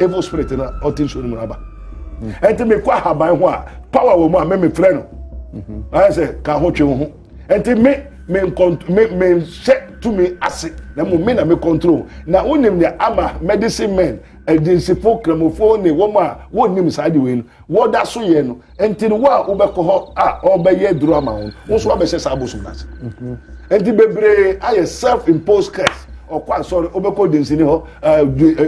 evil spirit na ɔte nsuo no mu aba ɛnti mi kɔ ahaban ho a power wɔ mu a mi mi frɛ no ayɛ sɛ ka ho twe ho ɛnti mi mi nkɔnt mi mi nhyɛ tumi ase na mo mi na mi control na o nim nea ama medicine men ɛdinsifo kramofo ne wɔn a wɔn nim saa de wei no wɔda so yɛ no. Nti no wo a wobɛkɔ hɔ a ɔbɛyɛ aduro ama wo wo nso wabɛhyɛ saa bosom no ase mhm. nti bebree ayɛ self imposed curse ɔkɔ asɔre wobɛkɔ densini hɔ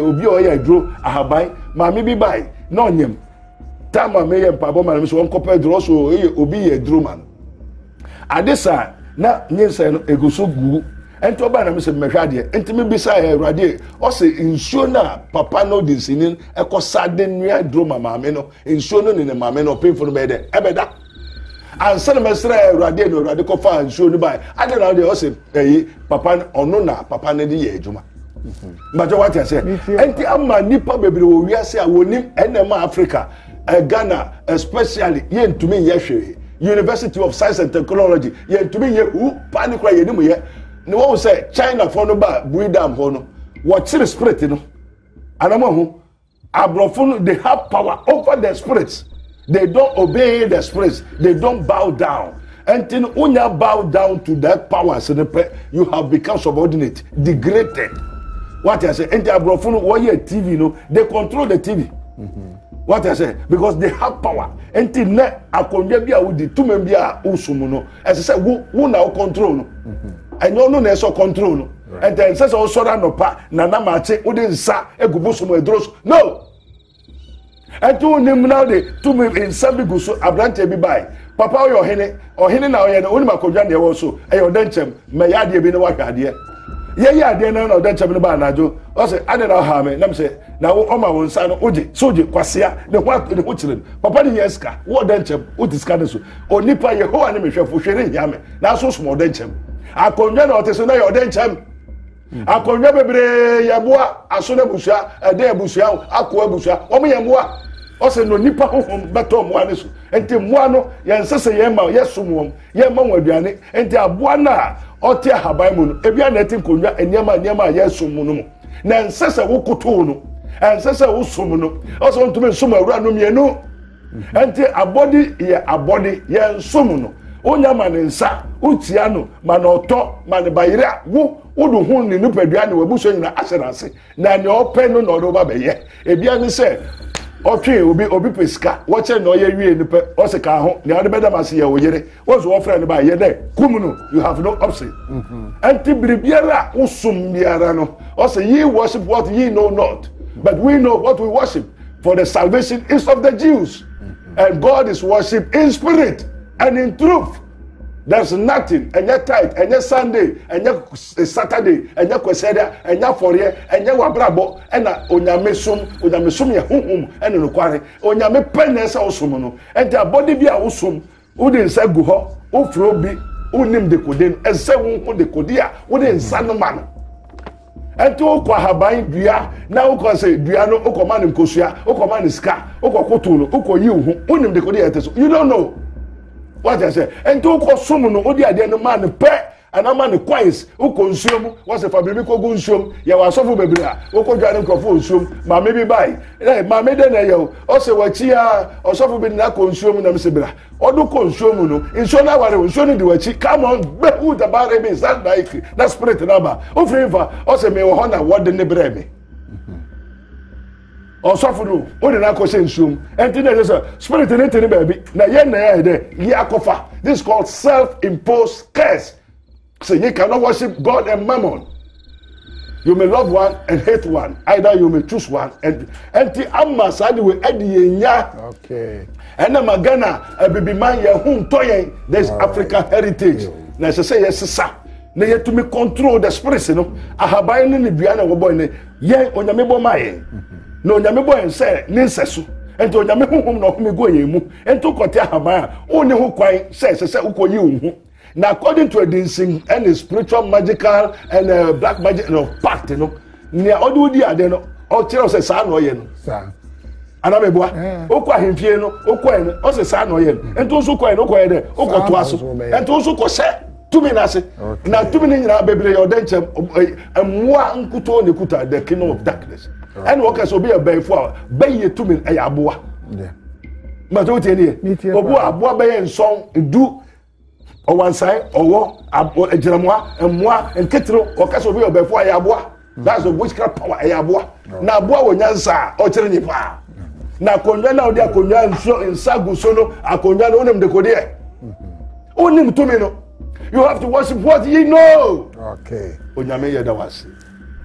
obi a ɔyɛ aduro ahaban maame bi bae na ɔnyam tam a meyɛ mpaebɔ ma no so ɔnkɔpɛ aduro ɔso ɛyɛ obi yɛ aduro ma no ade saa na nyinsɛn no ɛgu so gu ɛnti ɔbaa na me sɛ mmɛhwɛ adeɛ nti mebisa yɛ awurade ɔsɛ nsuo no a papa no densini ɛkɔ sa de nua aduro ma maame no Nsuo no ne ne maame no ɔpemfo no bɛyɛ dɛ ɛbɛda ansa na mɛsrɛ awurade ɛna awurade kɔfa nsuo no bae ade na ɔdeɛ ɔsɛ ɛyi papa ɔno na papa no de yɛ adwuma mbatɛ wate aseɛ ɛnti ama nnipa bebree wɔ wiase a wɔnim ɛnɛm a africa eh, ghana especially yɛntumi nyɛ hwee university of science and technology yɛntumi nyɛ hu paa ne kora yɛnim yɛ na wɔn sɛ chinafoɔ no ba bui dam hɔ no wɔkyere spirit no anam ho Aborɔfo no they have power over the spirits they don't obey the spirits they don't bow down ɛnti no wonya bow down to that powers no pɛ you have become subordinate degraded wate ase ɛnti aborɔfo no wɔyɛ tv no they control the tv mm -hmm. wate ase because they have power ɛnti nnɛ akonnwa bi a wodi tumi bi a wosom no ɛsɛ sɛ wo wo na wo control no ɛnyɛ ɔno na ɛsɛ control no ɛntɛ ɛnsɛ sɛ ɔsɔre anɔpa na na maakye wode nsa egu bosom aduro so no ɛnti wonim na wode tumi nsa bi gu so aberanteɛ bi bae papa woyɛ ɔhene ɔhene na ɔyɛ no wonim akɔdwa deɛ wɔ so ɛyɛ ɔdɛ nkyɛm mɛyɛ adeɛ bi ne wahwɛ adeɛ yɛyɛ adeɛ no na ɔdɛ nkyɛm no ba anadwo ɔsɛ adɛn na ɔhaa me nam sɛ na wo ɔma wo nsa no wogye so wogye kwasea ne ho ne ho kyerɛ no papa ne yɛ sika wɔ ɔdɛ nkyɛm wote sika no so Onipa, Yehowa ne me hwɛfo, hwee renhia me. Nanso som ɔdɛ nkyɛm. Akonnwa na ɔte so na yɛ ɔdɛ nkyɛm. Mm. Akonnwa bebree yɛ mmoa, aso na abusua, ɛdɛ abusua, akoa abusua, wɔn yɛ mmoa. Ɔsɛ na onipa honhom bɛtɔ mmoa no so. Nti mmoa no, yɛn nsɛ sɛ yɛn ma yɛsom wɔn, yɛn ma wɔn aduane. Nti aboa no a ɔte ahaban mu no, ebi a na ɛte nkonnwa nneɛma nneɛma a yɛsom mu no mu. Na ɛnsɛ sɛ wokotow no, ɛnsɛ sɛ wosom no. Ɔsɛ ɔntumi nsom awura no mmienu. Ɛnti abɔde yɛ abɔde, yɛ nsom no, wo nya ma ne nsa, wo tia no ma na ɔtɔ, ma ne ba yere a, wo, wo de ho ne nipadua ne w'abusua nyina ahyɛ na ase, na nea ɔpɛ no na ɔde woba bɛyɛ. Ebia ne sɛ, ɔtwe obi, obi pɛ sika, wɔkyɛ nea ɔyɛ wie no pɛ, ɔse ka ho, nea ɔde bɛda ma se yɛ wo yere, wɔn nso wɔfrɛ no ba yɛ dɛ kum no you have no option ɛnti mm-hmm. biribiara a wosom biara no ɔsɛ ye worship what ye know not but we know what we worship for the salvation is of the jews mm-hmm. and god is worship in spirit and in truth there's nothing ɛnyɛ tight ɛnyɛ sunday ɛnyɛ saturday ɛnyɛ kwesɛda ɛnyɛ afɔreɛ ɛnyɛ wabrabɔ ɛna onyame som onyame som yɛ huhum ɛna nokware onyame pɛ na ɛsɛ ɔsom no ɛnti abɔde bi a wosom Wode nsa gu hɔ, wofrɛ obi, wonim dekode no, ɛsɛ sɛ wohu dekode a wode nsa no ma no. Ɛnti wokɔ ahaban dua na wokɔ sɛ dua no wokɔma no nkosua, wokɔma no sika, wokɔkoto no, wokɔyi wo ho, wonim dekode a ɛte so. You don't know. Wagya sɛ, ɛnti wokɔ som no, wode adeɛ no ma no pɛ, Ana ma ne coins wokɔ nsuo mu wɔsɛ fa biribi kɔgu nsuo mu yɛwɔ asɔfo bebree a wɔkɔdwa ne nkurɔfo wɔ nsuo mu maame bi bae ɛ maame dɛ na ɛyɛ o ɔsɛ wakyi a ɔsɔfo bi de no akɔ nsuo mu nam se bra ɔdo kɔ nsuo mu no nsuo no aware o nsuo no di wakyi come on behu dabare bi saa na ɛfiri na spirit no aba wofiri mfa ɔsɛ mewɔ hɔ na wɔde ne brɛ me Ɔsɔfo no, wode no akɔhyɛ nsuom. Ɛnti na ɛsɛ sɛ spirit no te ne baabi na yɛn na yɛayɛ dɛ yɛ akɔfa. This is called self-imposed curse. Say you cannot worship God and mammon. You may love one and hate one. Either you may choose one and ɛnti ama saa de wei ɛde yɛn nya. Okay. Ɛna ma Ghana abibiman yɛn ho ntɔ yɛn. There is African heritage. Na ɛsɛ sɛ yɛsesa na yɛtumi control the spirits no ahaban ne ne dua na wɔbɔ ne yɛn onyame bɔ maa yɛn na onyame bɔ yɛn sɛ ne nsɛso nti onyame honhom na ɔhome gu yɛn mu nti wokɔte ahaban a wonni ho kwan sɛ ɛsɛ sɛ wokɔyi wo ho na according to adinsin ɛne spiritual magical and uh, black magic no pact no nea ɔde wodi adeɛ no ɔkyerɛ sɛ saa na ɔyɛ no anamibua eh. okɔ ahemfie no okɔ yɛ no ɔsɛ saa na ɔyɛ no nti nso kɔ yɛ no okɔ yɛ dɛ okɔ to aso nti nso kɔ sɛ. tumi no ase na tumi no nyinaa bebree yɛ ɔdɛ nkyɛn mmoa nkutoo ne kuta the kingdom of darkness ɛna wɔka sɛ obi yɛ bɛyifo a bɛyɛ tumi ɛyɛ aboa mbàtɛ o tiɛ ni yɛ obu aboa bɛyɛ nsɔn du ɔwansan ɔwɔ agyinamoa mmoa nketero wɔka sɛ obi yɛ bɛyifo a yɛ aboa. that's the witchcraft power ɛyɛ aboa na aboa wɔ nyansa a ɔkyerɛ nyɛ paa na akonnwa na ɔde akonnwa nsuo nsa gu so no akonnwa no wonim dekodeɛ wonim tumi no you have to worship what ye know okay onyame yɛ da wase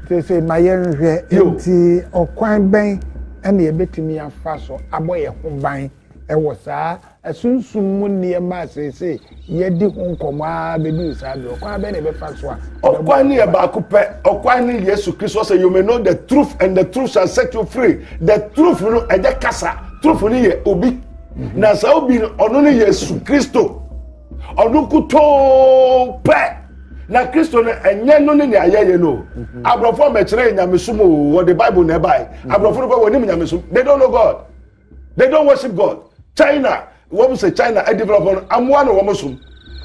sese ma yɛnhwɛ nti ɔkwan bɛn ɛna yɛbɛtumi afa so abɔ yɛn ho ban ɛwɔ saa Sunsum mu nneɛma a seesei yɛadi ho nkɔmmɔ ara bɛduru saa bere, ɔkwan bɛn na yɛbɛfa so a ɛbɛboa yɛn? Ɔkwan no yɛ baako pɛ. Ɔkwan ne Yesu Kristo. Ɔsɛ, You may know the truth, and the truth shall set you free. The truth no, ɛnyɛ kasa. Truth no yɛ obi. Mhm. Na saa obi no, ɔno ne Yesu Kristo. Ɔno nkutoo pɛ. Na Kristo no, ɛnyɛ no ne nea yɛyɛ no. Mhm. Aborɔfo mmɛkyerɛ nyamesom o, wɔde Bible na ɛbae. Mhm. Aborɔfo no pɛ, wɔnim nyamesom. They don't know God. they don't worship god china wɔn sɛ china ɛ develop wɔn amoa na wɔn som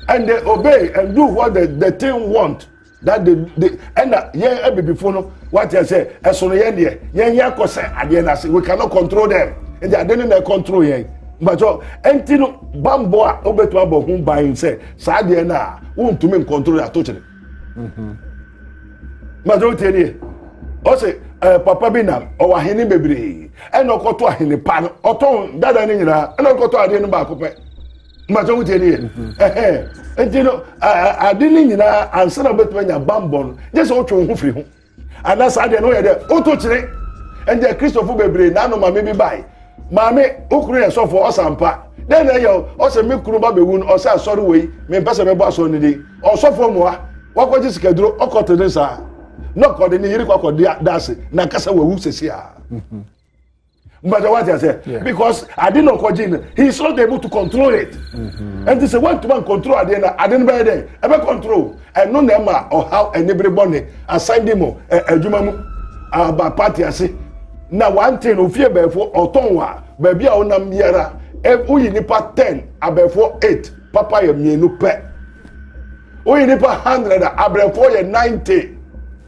and they obey and do what the the thing want that they they ɛna yɛn abibifo no wate sɛ ɛsono yɛn deɛ yɛn yɛn akɔ sɛ adeɛ na ase we cannot control them nti ade ne na control yɛn mbatɔ ɛnti no bambɔ a wobɛtumi abɔ ho ban sɛ saa adeɛ no a wontumi ncontrol ato kyerɛ mmadụ otie nie ọ sị eh, papa bi na ọwọ ahene bebree ɛna ɔkɔtɔ ahene pa no ɔtɔn dada no nyinaa ɛna ɔkɔtɔ adeɛ no baako pɛ mmadụ otie nie ɛhɛn nti no ade no nyinaa ansa na ɔbɛtumi anya bambɔ no gye sɛ wotwe wo ho firi ho ana saa deɛ no yɛ dɛ woto kyerɛ ɛnjɛ kristofo bebree na ano maame bi bae maame wo kunu yɛ sɔfo ɔsampa dɛn na ɛyɛ ɔsɛ me kunu ba bɛwu no ɔsɛ asɔre wei mempɛ sɛ mɛbɔ asɔre no din ɔsɔfo mmoa wakɔgye sikaduro ɔkɔte ne saa na ɔkɔde ne yere kɔakɔde da ase na kasa wawu sɛsi a mbàtà wàtí àsẹ because adi na ọkọ gyin no he is not able to control it ẹn ti sẹ wọn tuma control adeɛ na adi no bɛyɛ dɛ ɛbɛ control ɛno na ɛma ɔhaw ɛnibiri bɔ ne asan di mu ɛ ɛdwuma mu aba party ase na wante no ofie bɛɛfo ɔtɔn wa baabi a ɔnam biara ɛ woyi nipa ten abɛɛfo eight papa yɛ mmienu pɛ. woyi nipa hundred a abrɛfoɔ yɛ ninety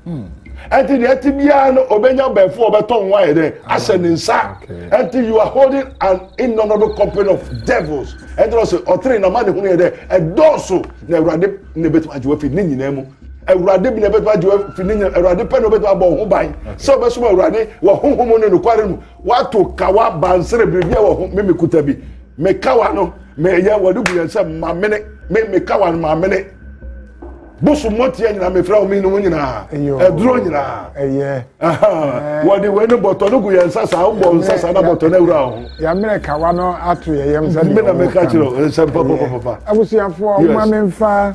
hmm. ɛnti deɛ ɛte biara no obɛnya bɛnfo ɔbɛtɔ ho ayɛ dɛ ahyɛ ne nsa ɛnti you are holding an innumerable company of devils ɛnti na ɔsɛ ɔtere na ma ne ho no yɛ dɛ ɛdɔɔso na awurade na ɛbɛtumi agye wafi ne nyinaa mu awurade bi na ɛbɛtumi agye wafi ne nyinaa awurade pɛ na ɔbɛtumi abɔ ho ban sɛ ɔbɛsom awurade wɔ honhom ne nokware mu Wato kawa bansere biribi wɔ ho me mekuta bi. Me kawa no meyɛ wɔde gu yɛn nsam mamene me me kawa no mamene. Boso mmɔteɛ nyinaa mefrɛ wo mene wo nyinaa ɛduro nyinaa. Ɛyɛ. Wɔde wei no bɔtɔ no gu yɛn nsa saa wobɔ nsa saa na bɔtɔ no awura ho. Yɛamene kawa no ato yɛn yam sɛdeɛ wɔka no. Mena meka kyerɛ nsɛm papa papa. Abusuafoɔ, mma memfa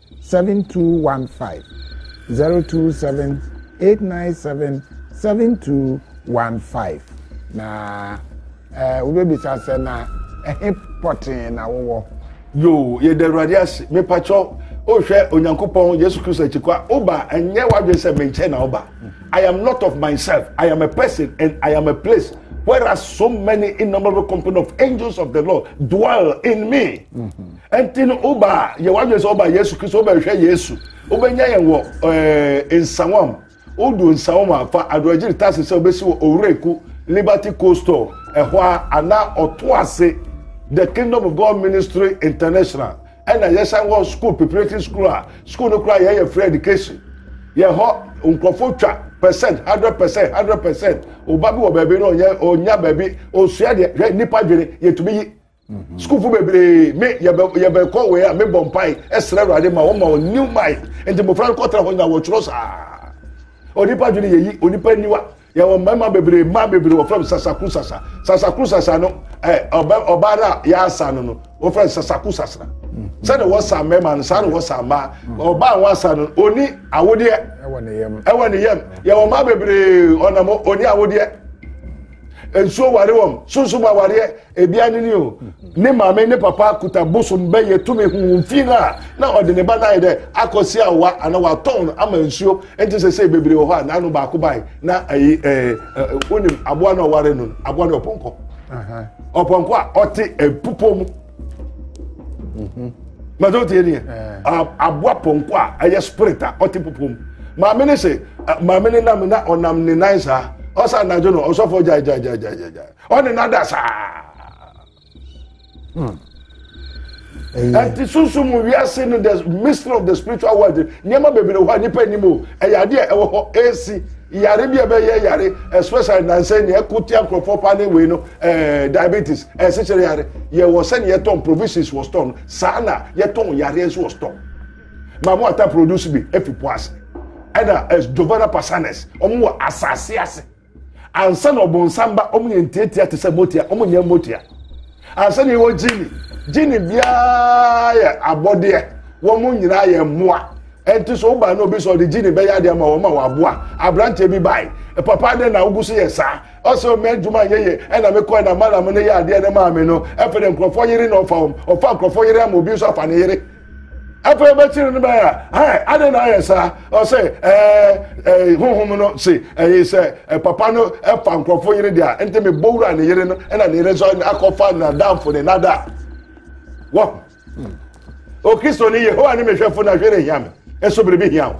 7215 027 897 7215 na ɛɛ wobɛbisa sɛ na ɛhe pɔtee na wowɔ yoo yɛda awurade ase mepakyɛw wohwɛ onyankopɔn yesu kristo akyikɔ a woba ɛnyɛ w'adwene sɛ me nkyɛn na woba i am not of myself i am a person and i am a place whereas so many innumerable company of angels of the lord dwell in me mm -hmm. Ɛnti no woba a, yɛ w'adwene sɛ woba Yesu Kristo, wobɛhwɛ Yesu, wobɛnya yɛn wɔ eh, nsawam. Wodu nsawam a, fa adorɔgyere tase sɛ wobɛsi wɔ Owuraku Liberty Coastal ɛhɔ a, anaa ɔto ase The Kingdom of God Ministry International. Ɛna yɛsan wɔ school preparatory school a school no koraa yɛyɛ free education. Yɛ hɔ nkurɔfoɔ twa percent hundred percent hundred percent. Oba bi wɔ baabi na ɔnyɛ ɔnya baabi ɔsua deɛ hwɛ nipa dwene yɛtumi yi Mm-hmm. sukuufo bebree me yɛbɛ yɛbɛkɔ wei a mebɔ mpae ɛsrɛ awurade ma wɔma wɔn new mind nti mmofra no kɔtena hɔ nyina wɔtwerɛ saa onipa dwene yɛyi onipa niwa yɛwɔ mmarima bebree mmaa bebree wɔfrɛ m sasakuru sasa sasakuru sasa no ɛ ɔbɛ ɔbaa no a yɛasa no no wɔfrɛ no sasakuru sasra sɛde wɔsa mmarima no saa na wɔsa mmaa ɔbaa ho asa no oni awodeɛ ɛwɔ ne yam yɛwɔ mmaa bebree ɔnam oni awodeɛ nsuo ware wɔm sunsum awareɛ Ebia no ni o, ne maame ne papa kuta bosom bɛyɛ tumi huhum fi no a, na ɔde ne ba no ayɛ dɛ akɔsi awa anaa watɔn no ama nsuo. Enti sɛsei bebree wɔ hɔ a n'ano baako bae na ayi ɛɛ ɛɛ wonim aboa no a ɔware no no, aboa no ɔpɔnkɔ. Ɔpɔnkɔ a ɔte ɛpupɔ mu. Mhm. Mɛtɔ tie ni yɛ. Aboa pɔnkɔ a ɛyɛ spirit a ɔte pupɔ mu. Maame ne se maame ne nam na ɔnam ne nan saa. Ɔsa anadwo no ɔsɔfo gyae gyae gyae gyae gyae. ɔne no ada saa hmm. ɛnti sunsum wiase no the mystery of the spiritual world nneɛma bebree hɔ a nipa anim o ɛyɛ adeɛ ɛwɔ hɔ ɛsi yare bi a ɛbɛyɛ yare especially nansɛn ni ɛko tia nkurɔfoɔ paa ne wei no ɛɛ eh, diabetes ɛsikyere eh, yare yɛwɔ sɛni yɛtɔn provisions wɔ store no saa na yɛtɔn yare nso wɔ store maamu ata produce bi efi po ase ɛna eh, jovana pasanes wɔn wɔ asase ase. Ansa na ɔbonsam ba, wɔn yɛ ntiatia te sɛ motia, wɔn nyɛ motia. Ansa na yɛwɔ gyini, gyini biara yɛ abɔdeɛ, wɔn nyinaa yɛ mmoa. Ɛnti so woba na obi sɛ ɔde gyini bɛyɛ adeɛ ama wɔn ma wɔaboa. Aberanteɛ bi bae, e, papa adɛn na wogu so yɛ saa? Ɔsɛ ɔmɛ adwuma nyɛ yɛ, ɛna mekɔɛ na malam no yɛ adeɛ no maa me no. Ɛfɛ dɛ nkurɔfoɔ yere na ɔfa wɔn, ɔfa nkurɔfoɔ yere ama obi nso afa ne yere. Afei ɔbɛkyere no bɛyɛ a, ɛ, adɛn na ayɛ saa? Ɔse, ɛɛ, ɛ, Honhom no se, ɛɛ, sɛ ɛ, papa no fa nkurɔfo yere de a, nti mebɔ wura ne yere no, ɛna ne yere nso akɔfa n'adamfo ne nada. Wahu? O Kristoni, Yehowa ne me hwɛfo na hwee renhia me. Nso biribi hia wo.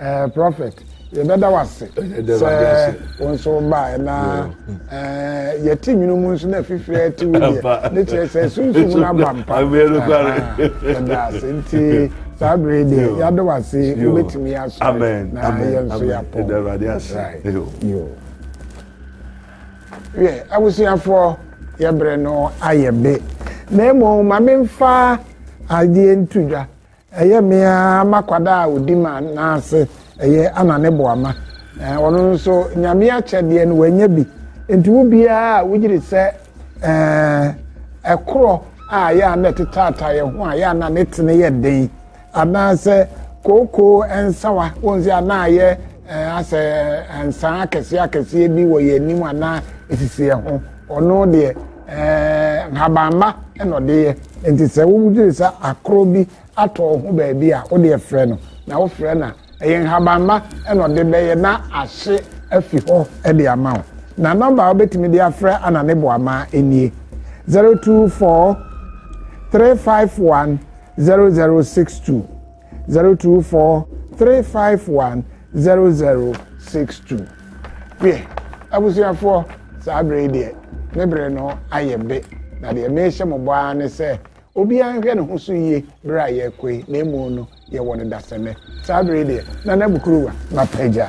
Ɛɛ prɔfɛt, yɛbɛda wo ase sɛ wo nso wobaeɛ na ɛɛ yɛte nwunu mu nso na afifiri ate wo deɛ ne kyerɛ sɛ sunsum no aba mpa. Yɛda ase nti saa bere deɛ yɛada wo ase wobɛtumi asɔre na yɛn nso yɛapɔn. Yɛ abusuafoɔ yɛbrɛ no ayɛ be na mmom ma memfa adeɛ nto dwa Ɛyɛ me ara m'akwada a ɔdi ma n'ase ɛyɛ ana ne boama. Ɔno nso nyame akyɛ deɛ no wanya bi. Nti wo biara a wogyiri sɛ ɛkorɔ a yɛ a na ɛtetaataa yɛ ho a yɛ a na ne tene yɛ den anaasɛ kookoo nsawa wɔn sɛ anaa yɛ asɛ nsaa akɛseɛ akɛseɛ bi wɔ yɛn anim anaa ɛsisi yɛn ho. Ɔno deɛ ɛɛ nhabamma na ɔde yɛ nti sɛ wodwene sɛ akorɔ bi atɔ ho baabi a wodeɛ frɛ no na wofrɛ no a ɛyɛ nhabamma na ɔde bɛyɛ na ahye afi hɔ de ama wo na nɔmba a wobɛtumi de afrɛ ana ne boamaa nie 024 351 0062 zero two four three five one zero zero six two deɛ abusuafoɔ saa bere deɛ ne bere no ayɛ be na deɛ mehyɛ mo bɔ ara ne sɛ obiara nhwɛ ne ho so yie bere a yɛrekɔ yi na emu no yɛwɔ no dasɛnɛ saa bere deɛ na n'abukuruwa mapagya.